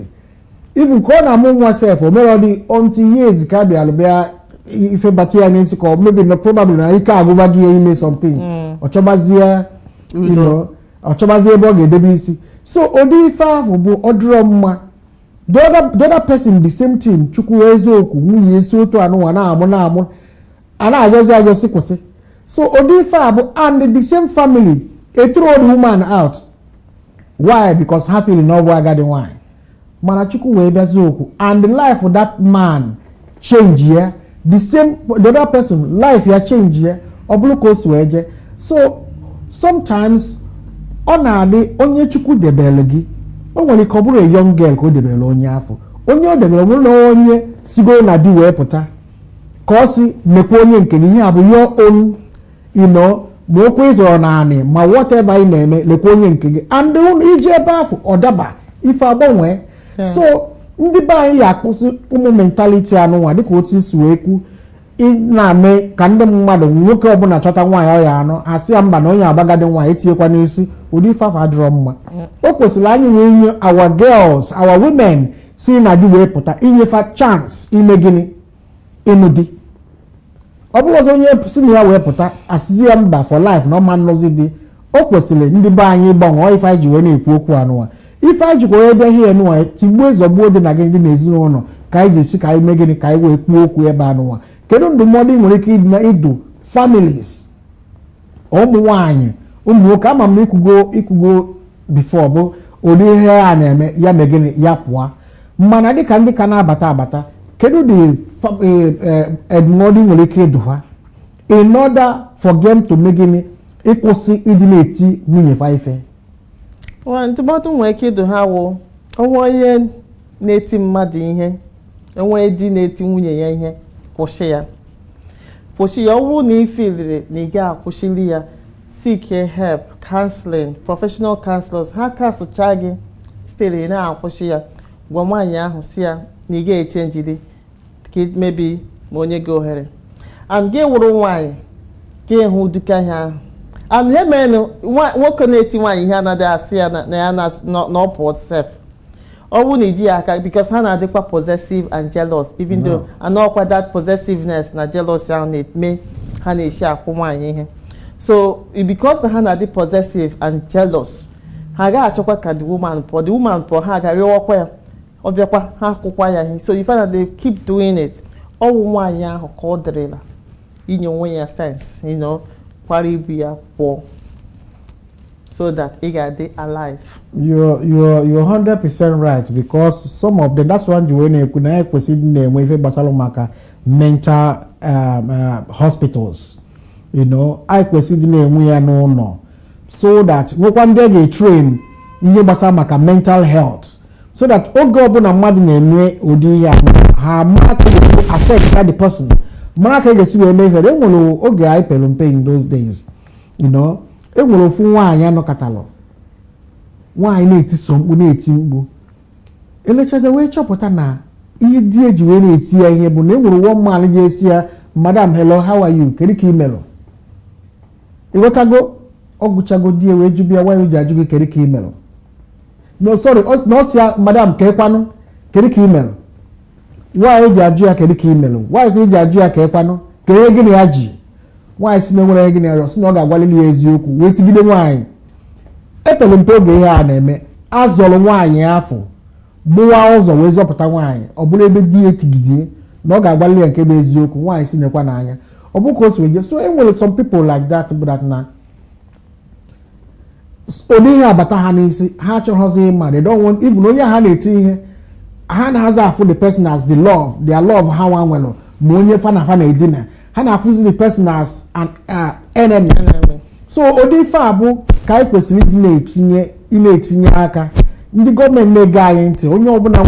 even ka ọ na-amụ nwa sef o mere ọ dị until years ka bịara bịa ife bata ya n'isi ka ọ maybe na probably na ike agụba gị ya ime something mm. ọ chọbazie you know ọ chọbazi ebe ọ ga-edebe isi so ụdị ife ahụ bụ ọ dịrọ mma the other the other person the same thing chukwu eziokwu nwunye esi otu anụnwa na-amụ na-amụ a na-agọzi agọzi kwụsị so ụdị ife a bụ and the same family ethrow the woman out why because ha feel na ọ bụ agadi nwanyị mana chukwu wee bụ eziokwu and the life that man change ya the same the other person life ya change ya ọ bụrụ ka o si wee jee so sometimes ọ na-adị onye chukwu debere gị o nwere ike ọ bụrụ a young girl ka o debere onye afụ onye o debere nwere na onye sigoro na di wee pụta ka ọ si mekwa onye nke gị ihe bụ your own you know ma ụkwụ ị zọrọ n'anị ma whatever ị na-eme lekwa onye nke gị and i je ebe afụ ọ daba ife agbanwe so ndị be anyị ya akwụsị ụmụ mentality anụnwa dịka otu i si wee kwu na-eme ka ndị mmadụ nwoke ọbụla chọta nwaanyị ọ ya-anụ asị ya mba na onye a bụ agadi nwaanyị etinyekwa n'isi ụdị ife afụ adịrọ mma o kwesịrị anyị wee nye our girls our women si na di wee pụta inye fa chance ime gịnị ịnụ di ọ bụrụ ọzọ onye si na ya wee pụta asịzi ya mba for life na ọ ma nụzi di o kwesịrị ndị be anyị ịgbanwe ọ ife anyị ji wee na-ekwu okwu anụwa ife anyị jikwa wee bịa ihe nụwa tigbuo zọgbuo dị na gị ndị n'ezinụlọ ka anyị ga-esi ka anyị mee gịnị ka anyị wee kwuo okwu ebe anụwa kedu ndụmọdụ ị nwere ike ịdụ families ụmụ nwaanyị ụmụ nwoke ama m i kwugo i kwugo before bụ ụdị ihe a na-eme ya mee gịnị ya pụọ mana dịka ndị ka na-abata abata kedu ụdị ndụmọdụ e, ị nwere ike ịdụ ha in order for them to mee gịnị ịkwụsị ịdị na-eti nwunye fa ife ndụmọdụ nwere ike ịdụ ha wụ o nwee onye na-eti mmadụ ihe o nwee di na-eti nwunye ya ihe kwụsị ya kwụsị ya ọ bụrụ na ị feelịrị na ị ga-akwụsịli ya seek help counseling professional counselors ha counselchaa gị sitere na-akwụsị ya gwa nwaanyị ahụ si ya na ị ga-echangeri ka maybe ma o nye gị ohere and gị wụrụ nwaanyị ka ị hụ ụdị ka ihe ahụ and ihe mere nwoke na-eti nwaanyị ihe anaghị asị ya na ya na ọ pụọ sef ọ bụrụ na i ji ya aka because ha na-adịkwa possessive and jealous even though and ọkwa that possessiveness na jealousy ahụ na-eme ha na-esi akụ nwaanyị ihe so because na ha na-adị possessive and jealous ha agaghị achọkwa ka the woman pụọ the woman pụọ ha aga rịọwakwa ya ọ bịakwa ha akụkwa ya ihe so you find that they keep doing it ọ wụ nwaanyị ahụ ka ọ dịrịla inye onwe ya sense you know kwara ibu ya pụọ so that ị ga-adị alive you're you're you're 100% right because some of them that's why e ji wee na-ekwu na e kwesịrị ịdị na-enwe ife gbasara maka mental um, uh, hospitals you know anyị kwesịrị ịdị na-enwe ya n'ụlọ so that nwekwa ndị a ga-etrain ihe gbasara maka mental health so that oge ọbụla mmadụ na-eme ụdị ihe a ha mara ka ga-esi affect that the person mara ka a ga-esi wee mee ihe e nwere oge anyị pere mpe in those days you know enwere ofu nwaanyị a nọkatalụ nwaanyị na-etiso mkpu na-eti mkpu elechaza wee chọpụta na ihe di ya ji wee na-eti ya ihe bụ na enwere one man ga-asị ya madam hello how are you kedu ka ị melụ ịghọtago ọ gwụchago di ya wee jụba ya why o ji ajụ gị kedu ka ị melụ no sorry na ọ si ya madam kekwanụ kedu ka ị melụ why o ji ajụ ya kedu ka ị melụ why ka o ji ajụ ya kekwanụ kedu ihe gị na ya ji nwaanyị si na enwerọ ihe gịnị ya si na ọ ga-agwalili ya eziokwu wee tigide nwaanyị epere m mpe oge ihe a na-eme a zọrọ nwaanyị afụ gbuwa ụzọ wee zọpụta nwaanyị ọ bụrụ ebe di ya etigidie na ọ ga-agbalị ya nke bụ eziokwu nwaanyị si nekwa n'anya ọ bụ ka o si wee so e nwere some people like that bụ that na ụdị ihe a bata ha n'isi ha achọghọzi ịma they don't want even onye ha na-eti ihe ha anazị afụ the person as the love their love ha nwa nwere ma onye fa na fa na-edina ha na-afụzi the person as an uh, enemy so ụdị ife a bụ ka anyị kwesịrị ịdị na-etinye ị na-etinye aka ndị gọọmenti na-ege anyị ntị onye ọbụla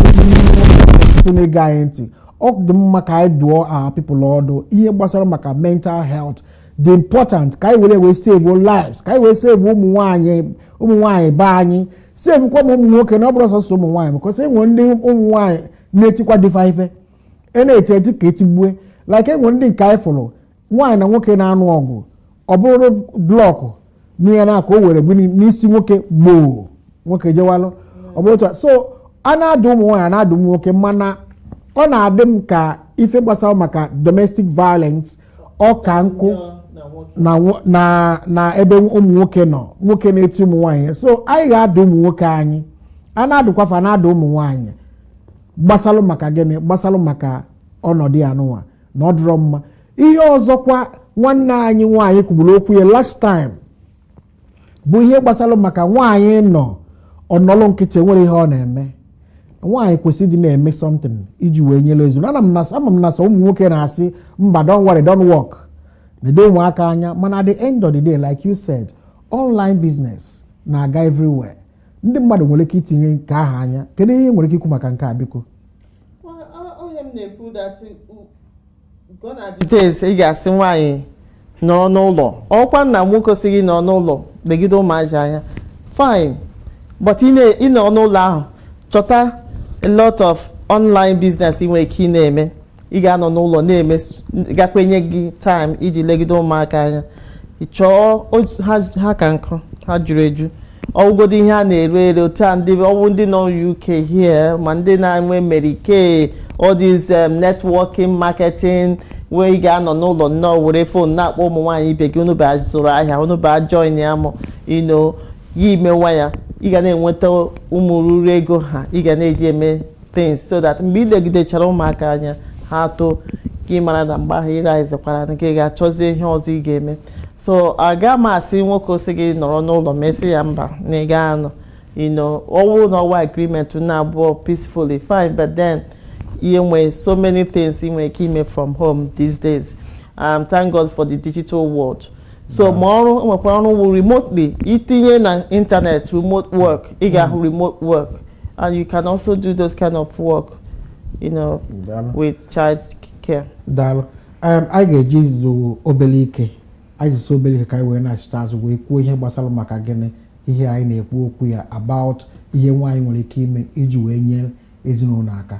nso na-ege anyị ntị ọ dị mma ka anyị dụọ our people ọdụ ihe gbasara maka mental health dị important ka anyị were wee save lives ka anyị wee save ụmụ nwaanyị ụmụ nwaanyị be anyị save kwa ụmụ nwoke na ọ bụrọ sọsọ ụmụ nwaanyị because e nwere ndị ụmụ nwaanyị na-etikwa di fa ife a na-eti eti ka e tigbue like e nwere ndị nke anyị fụrụ nwaanyị na nwoke na-anụ ọgụ o buru blọkụ n'ihe na aka o were gbu n'isi nwoke gboo nwoke jewalụ ọ bụrụ otu a so a na-adụ ụmụ nwaanyị a na-adụ ụmụ nwoke mana ọ na-adị m ka ife gbasara maka domestic violence ọ ka nkụ na nwo- na na ebe ụmụ nwoke nọ nwoke na-eti ụmụ nwaanyị so anyị ga-adụ ụmụ nwoke anyị a na-adụkwa fa na-adụ ụmụ nwaanyị gbasalụ maka gịnị gbasalụ maka ọnọdụ a nụnwa na ọ dịrọ mma ihe ọzọkwa nwanne anyị nwaanyị kwuburu okwu ya last time bụ ihe gbasalụ maka nwaanyị nọ ọ nọlụ nkịtị nwerọ ihe ọ na-eme nwaanyị kwesịrị ịdị na-eme something iji wee nyere ezi ama m na some ama m na some ụmụ nwoke na-asị mba don't worry don't work nedo ụmụaka anya mana at the end of the day like you said online business na-aga everywhere ndị mmadụ nwere ike itinye nke ahụ anya kedu ihe i nwere ike ikwu maka nke a biko days ị ga-asị nwaanyị nọrọ n'ụlọ ọkwa na nwoke sị gị nọrọ n'ụlọ legide ụmụazị anya fine but ị nọ n'ụlọ ahụ chọta a lot of online business ị nwere ike ị na-eme ị ga-anọ n'ụlọ na-eme gakwa enye gị time iji legide ụmụaka anya chọọ ha ka nkụ ha juru eju ọ wụgodu ihe a na-ere ere otu a ndị ọ wụ ndị nọ UK here ma ndị nọ na America all these um, networking marketing where ị ga-anọ n'ụlọ nnọọ were phone na-akpọ ụmụ nwaanyị ibe gị unu bịa zụrụ ahịa unu bịa join ya mụ ino ya i mewa ya ị ga na-enweta ụmụ ruru ego ha ị ga na-eji eme things so that mgbe ị legidechara ụmụaka anya ha too ka ị mara na mgbe ahụ ị realizekwara na ka ị ga-achọzi ihe ọzọ ị ga-eme so aga m asị nwoke ọ sị gị nọrọ n'ụlọ ma ị sị ya mba na ị gaa anọ you know ọ wụ na ọ wụ agreement unu abụọ peacefully fine but then e nwere so many things ị nwere ike ime from home these days um, thank god for the digital world so ma ọrụ nwekwara ọrụ wụ remotely i tinye na internet remote work ị ga-ahụ remote work and you can also do those kind of work you know with child care daalụ um, anyị ga-eje izu obere ike anyị zusi obere ike ka anyị wee nachita azụ wee kwuo ihe gbasara maka gịnị ihe anyị na-ekwu okwu ya about ihe nwaanyị nwere ike ime iji wee nyere ezinụlọ aka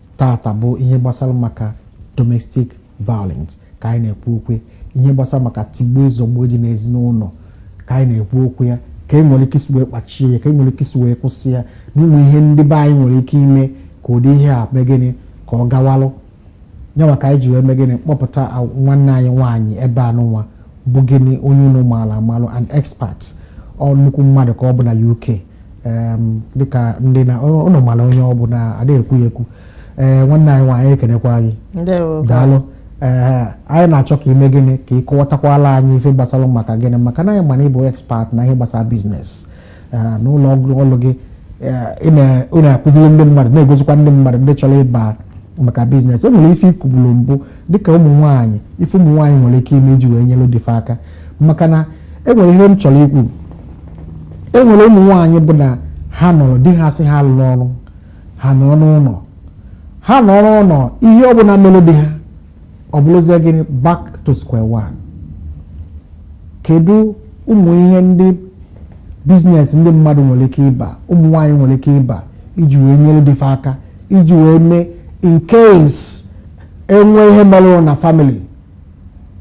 tata bụ ihe gbasara maka domestic violence ka anyị na-ekwu okwu ihe gbasara maka tigbuo zọgbuo dị n'ezinụlọ ka anyị na-ekwu okwu ya ka e nwere ike isi wee kpachie ya ka e nwere ike isi wee kwụsị ya n'inwe ihe ndị be anyị nwere ike ime ka ụdị ihe a mee gịnị ka ọ gawalụ nya nwa ka anyị ji wee mee gịnị kpọpụta nwanne anyị nwaanyị ebe anụnwa bụ gịnị onye unu maara amalụ an expert ọ nnukwu mmadụ ka ọ bụ na UK dịka ndị na unu mara onye ọ bụ na adịghị ekwu ya ekwu ee nwanne anyị nwaanyị ekenekwa gị daalụ ee anyị na-achọ ka i mee gịnị ka ị kọwatakwala anyị ife gbasara maka gịnị maka na anyị ma na ị bụ expert na ihe gbasara biznes n'ụlọ ọrụ gị ị na-akụziri ndị mmadụ na-egosikwa ndị mmadụ ndị chọrọ ịba maka biznes e nwere ife i kwubulu mbụ dịka ụmụ nwaanyị ife ụmụ nwaanyị nwere ike ime iji wee nyere di fa aka maka na enwere ihe m chọrọ ikwu enwere ụmụ nwaanyị bụ na ha nọrọ di ha sị ha alụla ọrụ ha nọrọ n'ụlọ ha nọrọ n'ụlọ ihe ọbụla mere di ha ọ bụrụzie gịnị back to square one kedu ụmụ ihe ndị biznes ndị mmadụ nwere ike ịba ụmụ nwaanyị nwere ike ịba iji wee nyere di fa aka iji wee mee in case e nwee ihe mere na family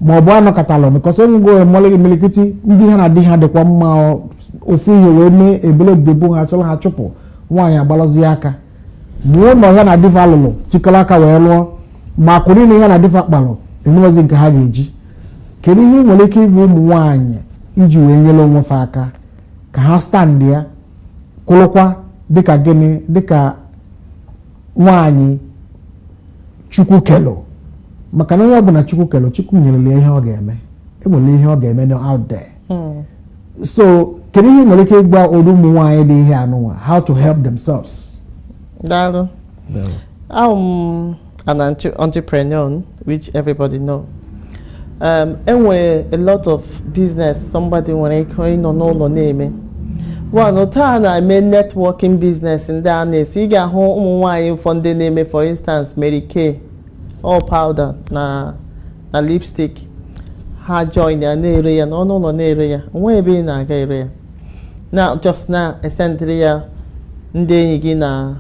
ma ọ bụ a nọkatala because enwego imilikiti ndị ha na di ha dịkwa mma ofu ihe wee mee ebelebe egbuo ha chọrọ ha chụpụ nwaanyị agbalụzie aka ma ụnọ ya na di fa lụrụ chịkọrọ aka wee lụọ ma akụ niine ya na di fa kpalụ enweghịzi nke ha ga-eji kedu ihe ị nwere ike ịgwa ụmụ nwaanyị iji wee nyere onwe fa aka ka ha standịa kwụrụkwa dịka gịnị dịka nwaanyị chukwu kelụ maka na onye ọbụla chukwu kelụ chukwu nyelụ ya ihe ọ ga-eme enwere ihe ọ ga-eme out there hmm. so kedu ihe i nwere ike ịgwa ụdị ụmụ nwaanyị dị ihe anụnwa how to help themselves daalụ I'm an entrepreneur which everybody know um, enwere a lot of business somebody nwere ike ịnọ n'ụlọ na-eme one taa na-eme networking business ndị a na-esi ị ga-ahụ ụmụ nwaanyị ụfọdụ na-eme for instance Mary Kay all powder na na lipstick ha join ya na-ere ya n'ọnụ ụlọ na-ere ya o nwe ebe ị na-aga ere ya na just na-esendịrị ya ndị enyi gị na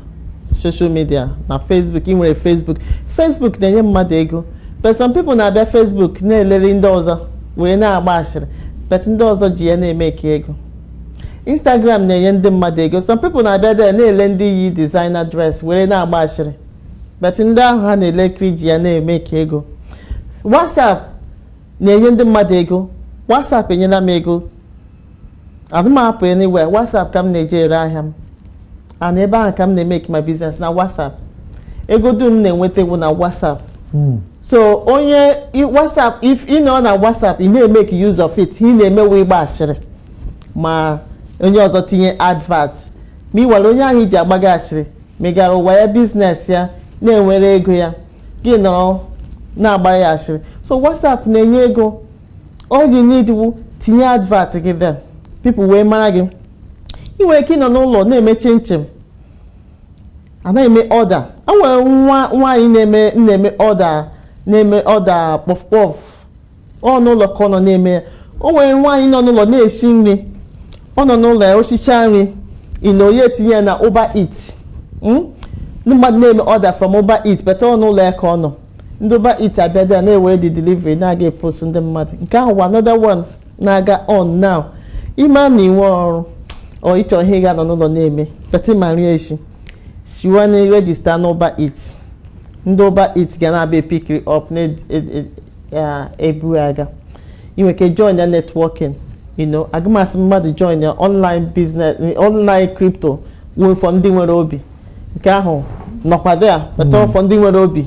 social media na facebook ị nwere facebook facebook na-enye mmadụ ego but some people na-abịa facebook na-eleri ndị ọzọ were na-agba ashịrị but ndị ọzọ ji ya na-emeke ego instagram na-enye ndị mmadụ ego some people na-abịa there na-ele ndị yi designer dress were na-agba ashịrị but ndị ahụ ha na-elekiri ji ya na-emeke ego WhatsApp na-enye ndị mmadụ ego WhatsApp enyela m ego adị m apụ anywhere WhatsApp ka m na-eji ere ahịa m and ebe ahụ ka m na-emeke my business na WhatsApp ego dum m na-enweta wụ na WhatsApp hmm. so onye WhatsApp if ị nọ na WhatsApp ị na-emeke use of it ị na-emewe ịgba asịrị ma onye ọzọ tinye advert ma ị nwere onye ahụ i ji agbaga asịrị megara ụwa ya business ya na-enwere ego ya gị nọrọ na-agbara ya asịrị so whatsapp na-enye ego all you need wu tinye advert gị there people wee mara gị ị nwere ike ịnọ n'ụlọ na-eme chinchin a na-eme order a nwere nwaanyị na-eme na-eme order kpọf kpọf ọ n'ụlọ ka ọ nọ na-eme ya o nwere nwaanyị nọ n'ụlọ na-esi nri ọ nọ n'ụlọ ya osicha nri you know ya etinye ya na Uber Eats hmm? ndị mmadụ na-eme order from Uber Eats but ọ n'ụlọ ya ka ọ nọ ndị Uber Eats abịa there na-ewere the delivery na-aga epost ndị mmadụ nke ahụ wụ another one na-aga on now ị ma na i nwe ọrụ or ị chọ ihe ị ga-anọ n'ụlọ na-eme but ị ma nri eshi siwa na register na Uber Eats ndị Uber Eats ga na-abịa epick it up na ya eburu aga i nwe ike join ya networking you know ga-amasị mmadụ join ya online business online crypto wụ for ndị nwere obi nke ahụ nọkwa there but ọ for ndị nwere obi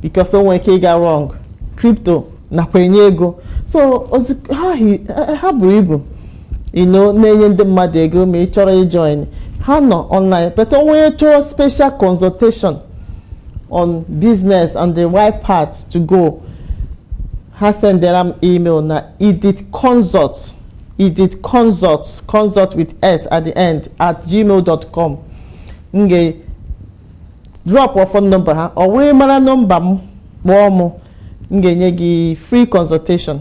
because o nwere ike ịga wrong crypto nakwa enye ego so ozi ha hi- ha- ha buru ibu you know na-enye ndị mmadụ ego ma ị chọrọ ịjoin ha nọ online but o nwee onye chọrọ special consultation on business and the right path to go ha sendere m email na Edith consult Edith consult consult with s at the end at gmail dot com m ga drop phone number ha ọ wụrụ ị mara nọmba m kpọọ m m ga-enye gị free consultation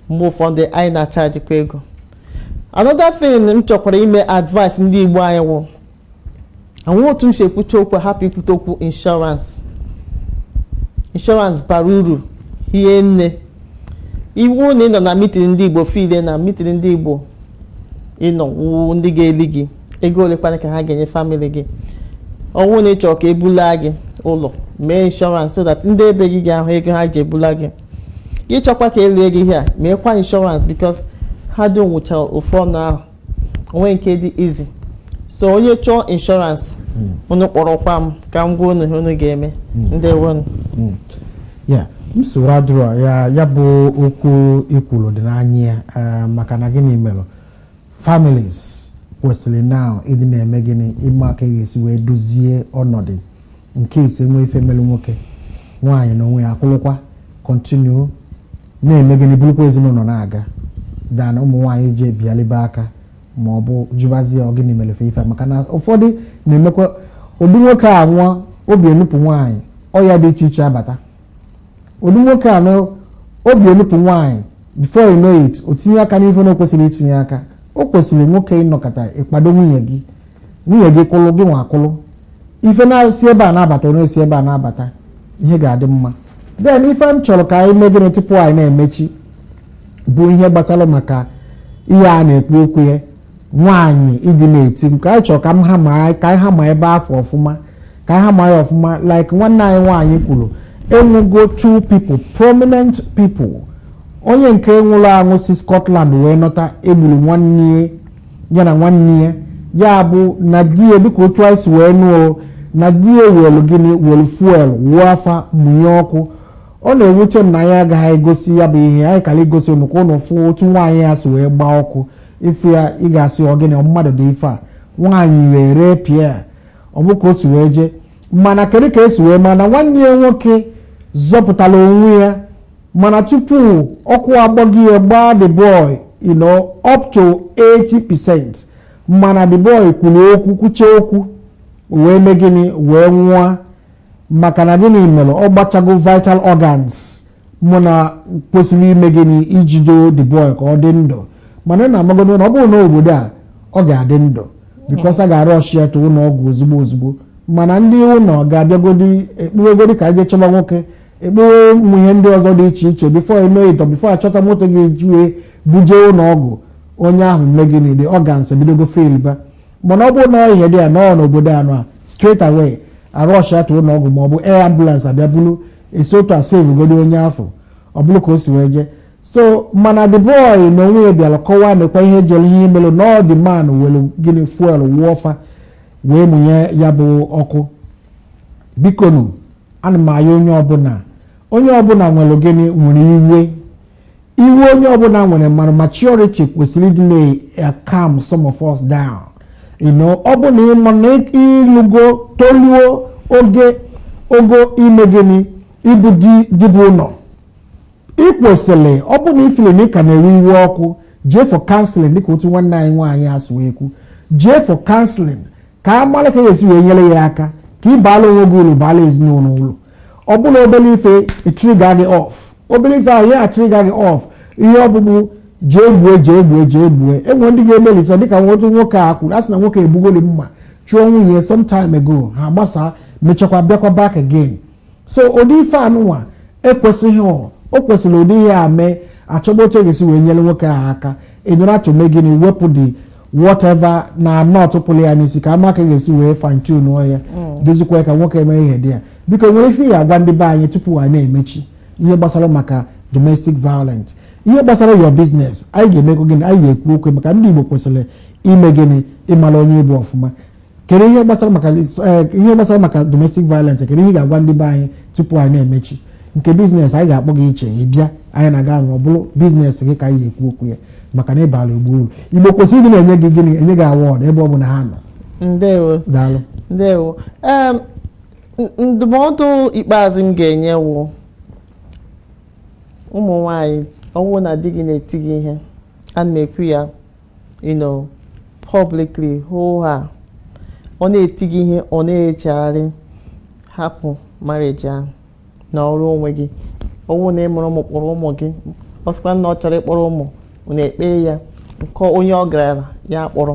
mgbe ụfọdụ anyị na-achajikwa ego another thing m chọkwara ime advice ndị Igbo anyị wụ enwe otu m si ekwucha okwu hapụ ikwute okwu insurance insurance bara uru hie nne ọ wụ na ị nọ na meeting ndị Igbo feel na meeting ndị Igbo ị nọ wụ ndị ga-eli gị ego olekwanụ ka ha ga-enye family gị ọ wụ na ị chọ ka ebula gị ụlọ mee insurance so that ndị ebe gị ga-ahụ ego ha ji ebula gị ị chọkwa ka elie gị here meekwa insurance because ha dum wụchara ofu ọnụ ahịa onwe nke dị easy so onye chọọ insurance hmm. unu kpọrọkwa m ka m gwa unu ihe unu ga-eme hmm. ndewonu hmm. nsogbu adịrọ ya bụ okwu i kwuru dị n'anya ya eh, maka na gịnị mere families kwesịrị now ịdị na-eme gịnị ịma aka a ga-esi wee dozie ọnọdụ in case e nwee ife melụ nwoke nwaanyị na onwe ya akwụlụkwa continue na-eme gịnị bulukwa ezinụnọ na-aga than ụmụ nwaanyị ji ebialibe aka ma ọ bụ jụbazie ọ gịnị mere fe ife a? maka na ụfọdụ na-emekwa ụdị nwoke a nwụọ obi enupụ nwaanyị ọya dị iche iche abata ụdị nwoke a nwụọ obi enupụ nwaanyị before you know it o tinye aka n'ife na o kwesịrị itinye aka o kwesịrị nwoke ị nọkata ị kwado nwunye gị nwunye gị kwụlụ gị nwa akwụlụ ife na-esi ebe a na-abata ọ na-esi ebe a na-abata ihe ga-adị mma then ife m chọrọ ka anyị mee gịnị tupu anyị na-emechi bụ ihe gbasara maka ihe a na-ekwu okwu ya nwaanyị di na-eti maka anyị chọrọ ka m hammer ka anyị hammer ebe afụ ọfụma ka anyị hammer ya ọfụma like nwanne anyị nwaanyị kwuru enwego two people prominent people onye nke nwụrụ anwụ si Scotland wee nata egburu nwanne ya na nwanne ya ya bụ na di ya dịka otu anyị si wee nụọ na di ya welu gịnị welu fuel wụọ fa mụnye ọkụ ọ na-ewute m na anyị agaghị egosi ya bụ ihe anyị kara igosi unu ka unu fụ otu nwaanyị a si wee gbaa ọkụ ị fụ ya ị ga-asị ọ gịnị ọ mmadụ dị ife a nwaanyị wee reepịa ọ bụ ka o si wee jee mana kedu ka esi wee mana nwanne ya nwoke zọpụtara onwe ya mana tupu ọkụ agbago ya gbaa the boy you know up to 80 percent mana the boy kwuru okwu kwuche okwu wee mee gịnị wee nwụọ maka na gịnị mere ọ gbachago vital organs mụ na kwesịrị ime gịnị ijido the boy ka ọ dị ndụ mana na amagodo na ọ bụrụ na obodo a ọ ga-adị ndụ because a ga-arush ya to ụlọ ọgwụ ozugbo ozugbo mana ndị ụlọ ga-abịagodi ekwuwegodi ka eje chọba nwoke ekwuwe ụmụ ihe ndị ọzọ dị iche iche before you know it before achọta moto a ga-eji wee buje ụlọ ọgwụ onye ahụ emee gịnị the organs ebidogo failba mana ọ bụrụ na ihe dị ya nọọ n'obodo anọ a straight away a rush ya to ụlọ ọgwụ ma ọ bụ air ambulance abịa bulu esi otu a sevugodi onye afụ ọ bụrụ ka o si wee jee so mana the boy na onwe ya bịara kọwaa nekwa ihe jere ihe mere na ọ the man were gịnị fuel wụọ fa wee mụnye ya bụ ọkụ bikonu ana m ayọ onye ọbụla onye ọbụla nwere gịnị nwere iwe iwe onye ọbụla nwere mana maturity kwesịrị ịdị na-calm some of us down ọ bụ na ị ma na ilugo toluo ogo ime gịnị ịbụ di bu ụlọ ị kwesịrị ọ bụ na ifili na ị ka na-ewe iwe ọkụ jee for counseling dịka otu nwanne anyị nwaanyị a si ekwu jee for counseling ka a mara ka esi wee nyere ya aka ka ị baala onwe gị uru baala ezinụlọ uru ọ bụ na obere ife etrigger gị off obere ife ahụ ya atrigger gị off ihe ọ bụ bụ jee gbue jee gbue jee gbue enwe ndị ga-emelisa dịka otu nwoke a kwuru a sị na nwoke ebugoli mma chụọ nwunye some time ago ha gbasaa mechakwa bịakwa back again so ụdị ife anụnwa ekwesịghị o kwesịrị ụdị ihe a mee achọba otu a ga-esi wee nyere nwoke ahụ aka enyere ya to me gịnị wepụ the whatever na nut tọpụrụ ya n'isi ka ama ka e ga-esi wee fine-tune ya mm. dozikwa ya ka nwoke emere ihe dị ya biko e nwere ife ị ya-agwa ndị be anyị tupu a na-emechi ihe gbasara maka domestic violence ihe gbasara your business anyị ga-emekọ gịnị anyị ga-ekwu okwu maka ndị Igbo kwesịrị ime gịnị ịmara onye ị bụ ọfụma kedu ihe gbasara maka eh, ihe gbasara maka domestic violence kedu ihe ị ga-agwa ndị be anyị tupu anyị na-emechi nke business anyị ga-akpọ gị iche ị bịa anyị na gị anọrọ ọ bụrụ business gị ka anyị ga-ekwu okwu ya maka na ị baara igbo uru igbo kwesịrị ịdị na-enye gị gịnị enye gị award ebe ọbụna ha nọ ndewo daalụ ndewo ndụmọdụ ikpeazụ m ga-enye wụ ụmụ nwanyị ọ wụ na di gị na-eti gị ihe ana m ekwu ya you know publicly hoo ha ọ na-eti gị ihe ọ na-echegharị hapụ marriage ahụ nọọrọ onwe gị ọ wụ na ị mụrụ ụmụ kpọrọ ụmụ gị ọ sịkwa na ọ chọrọ ịkpọrọ ụmụ unu ekpee ya nke onye ọ garala ya kpọrọ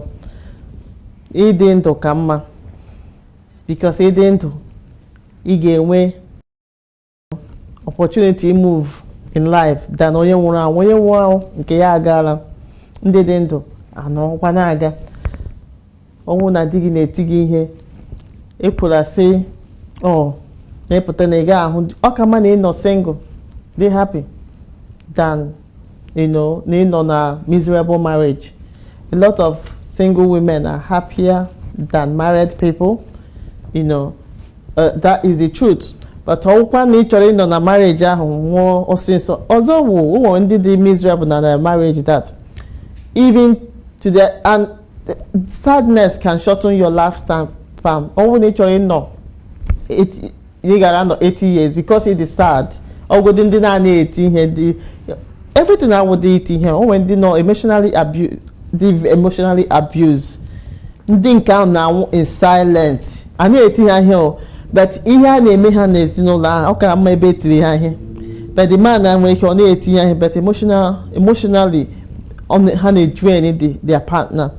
ịdị ndụ ka mma because ịdị ndụ ị ga-enwe opportunity imove in life than onye nwụrụ anwụ onye nwụrụ anwụ nke ya agaala ndị dị ndụ anọrọkwa na-aga ọ wụ na di gị na-eti gị ihe ekwula sị ọ na ị pụta na ị gaghị ahụ ọ ka mma na ị nọ single dị happy than na ị nọ na miserable marriage. A lot of single women are happier than married people. You know, uh, that is the truth. But ọ wụkwa na ị chọrọ ịnọ na marriage ahụ nwụọ ọsịsọ ọzọ wụ ụmụ ndị dị miserable na na marriage that even to the and sadness can shorten your lifespan ọ wụ na ị chọrọ ịnọ ị gara nọ 80 years because it is sad ọ wụdị ndị na a na-eti ihe dị everything awụdị iti ihe o nwe ndị nọ emotionally abuse dị emotionally abuse ndị nke ahụ na-anwụ in silent a na-eti ha ihe o but ihe a na-eme ha n'ezinụlọ ahụ ọ kara mma ebe e tiri ha ihe but the man na nwere ike ọ na-eti ya ihe but emotional emotionally ọ na- ha na-edrain the their partner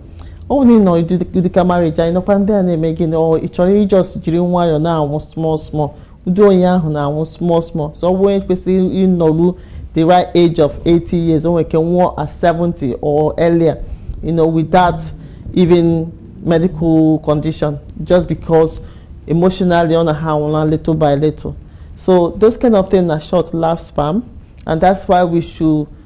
ọ bụrụ na ị nọ ụdịka marriage anyị nọkwa ndị a na-eme gị na ị chọrọ ị just jiri nwayọọ na-anwụ small small ụdị onye ahụ na-anwụ small small so ọ bụrụ onye kwesịrị ịnọru the right age of 80 years o nwere ike nwụọ at 70 or earlier you know without even medical condition just because emotionally ọ na ha anwụla little by little so those kind of things na short life span and that's why we should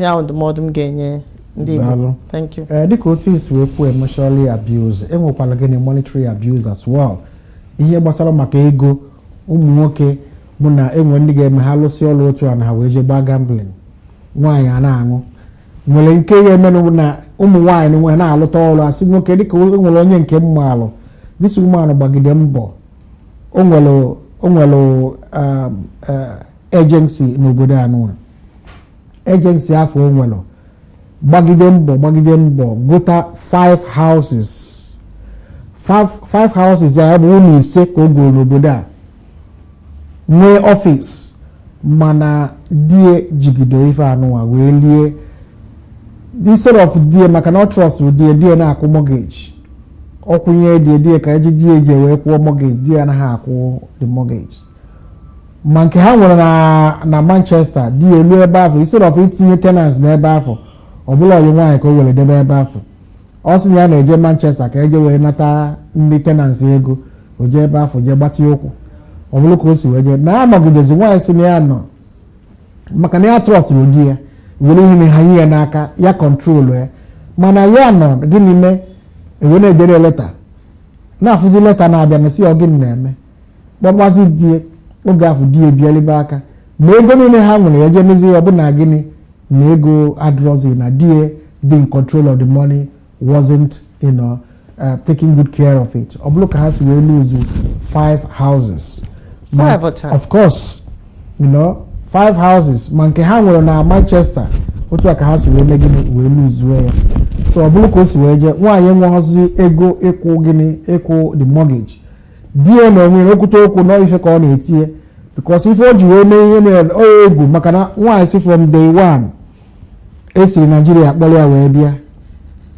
ya ndụmọdụ m ga-enye ndị Igbo thank you eh, dịka otu i si wee kwuo emotionally abuse e nwekwara gịnị monetary abuse as well ihe gbasara maka ego ụmụ nwoke bụ na e nwe ndị ga-eme ha lụsị ọlụ otu a na ha wee jee gbaa gambling nwaanyị a na-aṅụ nwere nke ya emenụ na ụmụ nwaanyị nwe na-alụta ọlụ asị nwoke dịka e nwere onye nke m maalụ this woman gbagide mbọ o nwere um, eh, agency n'obodo anụ agency afụ o nwere gbagide mbọ gbagide mbọ gota 5 houses 5 houses ya bụ ụlọ ise ka o goro n'obodo a nwee office mana di ya jigido ife anụwa wee lie instead of di ya maka na ọ trustụrụ di ya di ya na-akwụ mortgage ọ kwụnye di ya di ya ka e ji di ya jee wee kwụọ mortgage di ya anaghị akwụ the mortgage ma nke ha nwere na manchester di ya lue ebe afụ instead of itinye tenants n'ebe afụ ọ bụlụ ọyị nwaanyị ka o were debe ebe afụ ọ sị na ya na-eje manchester ka e jee wee nata ndị tenants ego o jee ebe afụ jee gbatịa ụkwụ ọ bụlụ ka o si wee jee na-anọgidezi nwaanyị sị na ya nọ maka na ya trustịrị di ya were ihe na ha nye ya n'aka ya control ya mana ya nọ gịnị mee e wee na-edere leta na-afụzi leta na-abịa na-asị ọ gịnị na-eme kpọbazi di ya oge afụ di ya bịa libe aka ma ego niile ha nwere ya jee mezie ya ọ bụ na gịnị na ego adịrọzi na di ya dị in control of the money wasn't you know, uh, taking good care of it ọ bụrụ ka ha si wee lose five houses ma of course you know, five houses ma nke ha nwere na Manchester otu a ka ha si wee mee gịnị wee lose ya so ọ bụrụ ka o si wee jee nwaanyị enweghịzi ego ịkwụ gịnị ịkwụ the mortgage di ya na onwe o kwute okwu na ọ ife ka ọ na-eti ya because ife o ji wee mee ihe mere onye egwu maka na nwaanyị sị from day one esiri Nigeria kpọrọ ya wee bịa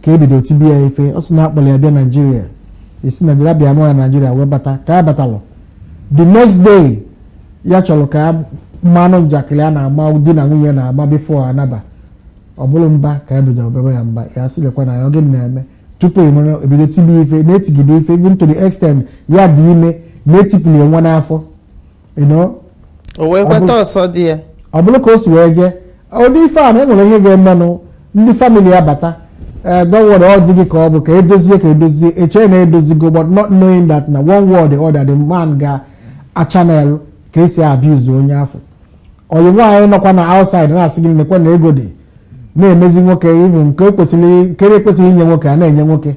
ka ebido tibe ya ife ọ sị na akpọrọ ya bịa Nigeria esi Nigeria bịa nụọ ya Nigeria wee bata ka ya batalụ the next day ya chọrọ ka ị manụ njakịrị a na-agba di na nwunye na-agba before anaba ọ bụrụ mba ka ya bido ọ babe ya mba ya sị lekwa na ya ọ gịnị na-eme tupu ị mara ebido tibe ife na-etigide ife even to the extent ya dị ime na-etipụli nwa n'afọ you know o wee kweta ọsọ ndụ ya ọ bụrụ ka o si wee jee ụdị ife a na enwere ihe ga-emenụ ndị family ya bata ee dọwọrọ ọ dị gị ka ọ bụ ka edozie ka edozie eche na edozigo but not knowing that na one way or the other the man ga-achannel ka esi abuse onye afụ ọyị nwaanyị nọkwa na outside na-asị gị nekwa na ego dị na-emezi nwoke even nke ekwesịghị inye nwoke a na-enye nwoke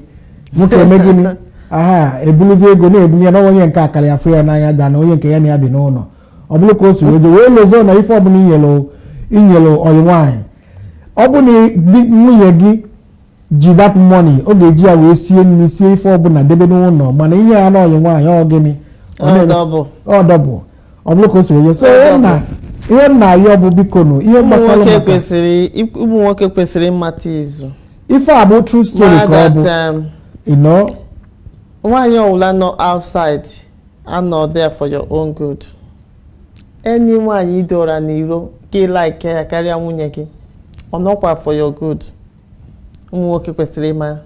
nwoke eme gịnị aha ebuluzi ego na-ebunye na onye nke a kara ya fụ ya n'anya karịa onye nke ya na ya bi n'ụlọ ọ bụrụ ka o si wee lozo na ife ọbụla inyere ọyị nwaanyị ọ bụ na nwunye gị ji that money ọ ga-eji ya wee sie nri sie ife ọbụla debe n'ụlọ mana inye ya n'ọyị nwaanyị ọ gịnị ọ dọbụ ọ bụrụ ka o si wee je so ihe m na-ayọ bụ biko nụ ihe gbasara ụmụ nwoke kwesịrị ịmata is ife a bụ true story ka ọ bụ that, um, you know nwaanyị ọwụla nọ outside anọ there for your own good enyi nwaanyị idora n'iro gị elike ya karịa nwunye gị ọ nọkwa for your good ụmụ nwoke kwesịrị ịma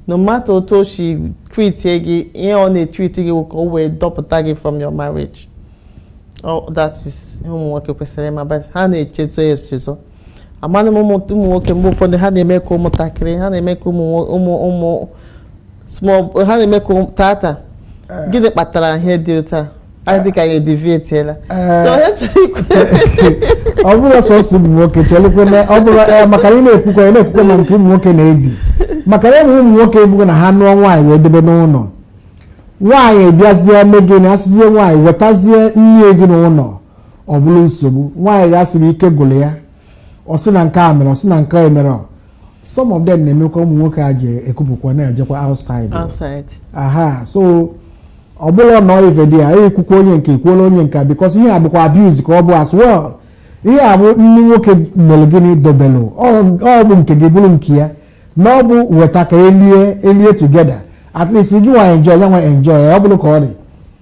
no matter otu o si treatie gị ihe ọ na-etreat gị ka o wee dọpụta gị from your marriage oh, that is ụmụ nwoke kwesịrị ịma but ha na-echezo echezo ị manụ ụmụ nwoke mgbe ụfọdụ ha na-eme ka ụmụntakịrị ha na-eme ka ụmụ ụmụ ụmụ ha na-eme ka tata eh. gịnị kpatara ihe dị otu a ọ dị ka anyị edeviatela so ihe m chọrọ ikwu ọ bụrọ sọsọ ụmụ nwoke chelekwe na ọ bụrụ eh, maka na ị na-ekwukwa ị na-ekwukwa na nke ụmụ nwoke na-edi maka na enwe ụmụ nwoke ebugo na ha nụọ nwaanyị wee debe n'ụlọ nwaanyị abịazie eme gịnị asịzie nwaanyị wetazie nri ezinụlọ ọ bụrụ nsogbu nwaanyị ga-asị na ike gwụrụ ya ọ sị na nke a mere ọ sị na nke a mere some of them na-emekwa ụmụ nwoke eji ekupụkwa na-ejekwa outside aha so ọ bụlụ na ọ ife dị ya ekwukwa onye nke a ekwuola onye nke a because ihe a bụkwa abuse ka ọ bụ as well ihe a bụ nri nwoke mere gịnị dobelụ ọ bụ nke gị bụrụ nke ya na ọ bụ weta ka elie elie together at least gị nwa enjoy ya nwa enjoy ọ bụrụ ka ọ dị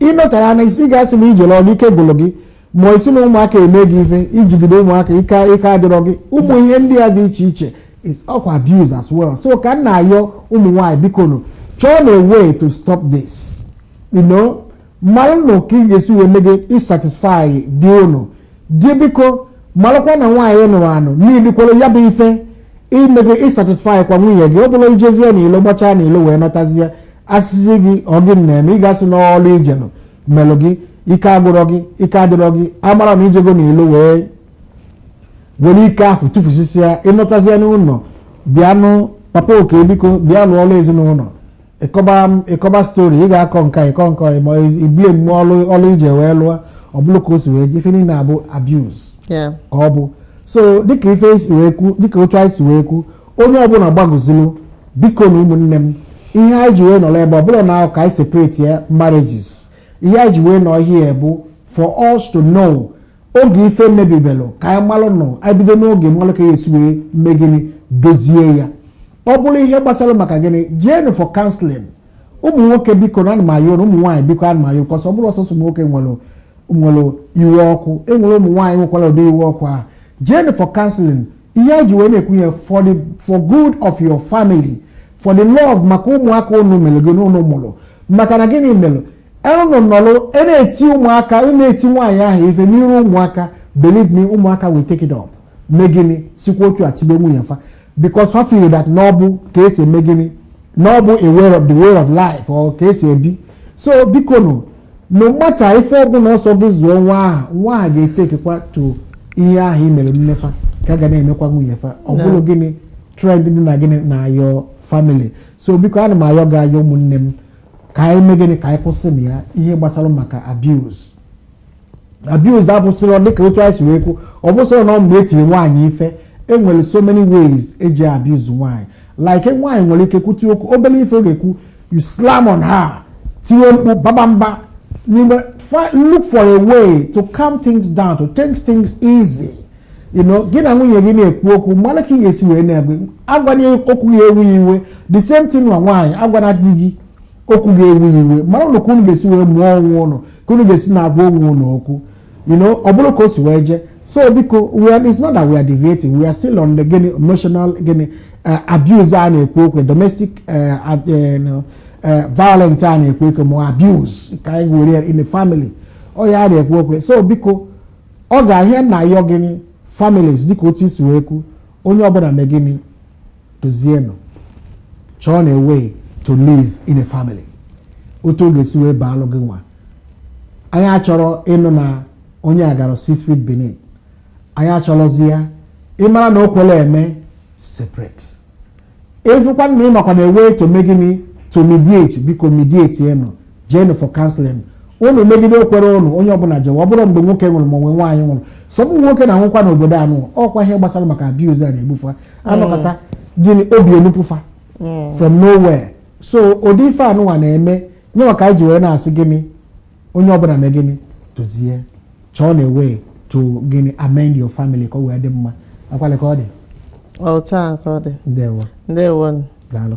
ịnọtara na ị ga-asị na ijere ọrụ ike gwụrụ gị ma ị sị na ụmụaka eme gị ife ijigide ụmụaka ike adịrọ gị ụmụ ihe ndị a dị iche iche is ọkwa abuse as well so ka m na-ayọ ụmụ nwaanyị biko nụ chọọnụ a way to stop this you know malụnụ ka ị ga-esi wee mee gịnị satisfy di ụnụ di biko marakwa na nwaanyị ị nụrụ anụ needikwara ya bụ ife ime gịnị ịsatisfy kwa nwunye gị ọ bụrọ ijezie na ilo gbachaa na ilo wee nọtazie asị gị ọ gịnị na-eme ị ga-asị na ọrụ ijelụ melụ gị ike gwụrụ gị ike adịrọ gị amarọ na ijego na ilo wee were ike afụ tụfusisia ịnọtazie n'ụlọ bịanụ papa oke biko bịa lụọ ọrụ ezinụlọ ịkọba ịkọba story ị ga-akọ nke a ịkọ nke a ma ibie mmụọ ọlụ ọlụ ije wee lụọ ọ bụrọ ka o si wee dị ife niile a bụ abuse ka ọ bụ so dịka ife si wee kwu dịka otu anyị si wee kwu onye ọbụla gbagozulu biko nụ ụmụnne m ihe anyị ji wee nọrọ ebe a ọ bụrọ na ọ ka anyị separate ya marriages ihe anyị ji wee nọ here bụ for us to know oge ife mebibelụ ka anyị malụ nọ anyị bido n'oge malụ ka a ya-esi wee mee gịnị dozie ya ọ bụrụ ihe gbasara maka gịnị jeenụ for counseling ụmụ nwoke biko nụ ana m ayọ ụnụ ụmụ nwaanyị biko ana m ayọ cos ọ bụrọ sọsọ ụmụ nwoke nwere nwere iwe ọkụ enwere ụmụ nwaanyị nwekwara ụdị iwe ọkụ ahụ jeenụ for counseling ihe a ji wee na-ekwu ihe a for the for good of your family for the love maka ụmụaka ụnụ mere gịnị ụnụ mụrụ maka na gịnị mere ụnụ nọrọ e na-eti ụmụaka ị e na-eti nwaanyị ahụ ife n'iru ụmụaka believe me ụmụaka will take it up mee gịnị sikwa otu a tibe nwunye fa because ha feel that na ọ bụ ka esi eme gịnị na ọ bụ a way of the way of life or ka esi ebi so biko nụ no matter ife ọbụla ọ sọ gị zụọ nwa ahụ nwa ahụ ga-etakekwa to ihe ahụ i mere nne fa ka a ga na-emekwa nwunye fa ọ bụrụ gịnị trend dị na gịnị na your family so biko ana m ayọ gị ayọ ụmụnne m ka anyị mee gịnị ka anyị kwụsị na ya ihe gbasara maka abuse abuse abụsịrọ dịka otu anyị si wee kwuo ọ bụsịrọ na ọ mgbe etiri nwaanyị ife enwere so many ways eji abuse nwaanyị like nwaanyị nwere ike kwutie okwu obere ife ọ ga-ekwu you slam on her tinye mkpu baba mba n'ime look for a way to calm things down to take things easy you know gị na nwunye gị na-ekwu okwu malụ ka ị ga-esi wee na-egbe agwana ya okwu ga-ewu iwe the same thing nwa nwaanyị agwana di gị okwu ga-ewu iwe maranụ ka unu ga-esi wee mụọ onwe ụnụ ka unu ga-esi na-agwa onwe ụnụ okwu you know ọ bụrụ ka o si wee jee so biko we are it's not that we are deviating we are still on the gịnị emotional gịnị eh, abuse a na-ekwu okwu domestic eh, eh, violence a na-ekwu okwu ma abuse ka anyị were ya in the family ọ ya a na-ekwu okwu so biko ọkwa ihe a na-ayọ gịnị families dịka otu i si wee kwu onye ọbụla mee gịnị dozienụ chọọnụ a way to live in a family otu ọ ga-esi wee baalụ gịnwa anyị achọrọ ịnụ na onye a gara six feet beneath anyị achọrọzi ya ị mara na o kwere eme separate ị fụkwa na ị makwanụ a way to mee gịnị to mediate biko mediatienụ jeenụ for counseling ụnụ megide o kwere ụnụ onye ọbụla jewa ọ bụrụ mgbe nwoke nwụrụ ma onwe nwaanyị nwụrụ so ụmụ nwoke na-anwụkwa n'obodo anụ ọkwa ihe gbasara maka abuse a na-egbu fa a nọkata mee gịnị obi enupụ fa mm. from nowhere so ụdị ife anụnwa na-eme ya nwa ka anyị ji wee na-asị gịnị onye ọbụla mee gịnị dozie chọọnụ a way to gịnị amend your family ka ọ wee dị mma akwale ka ọ dị otu a ka ọ dị ndewo ndewo daalụ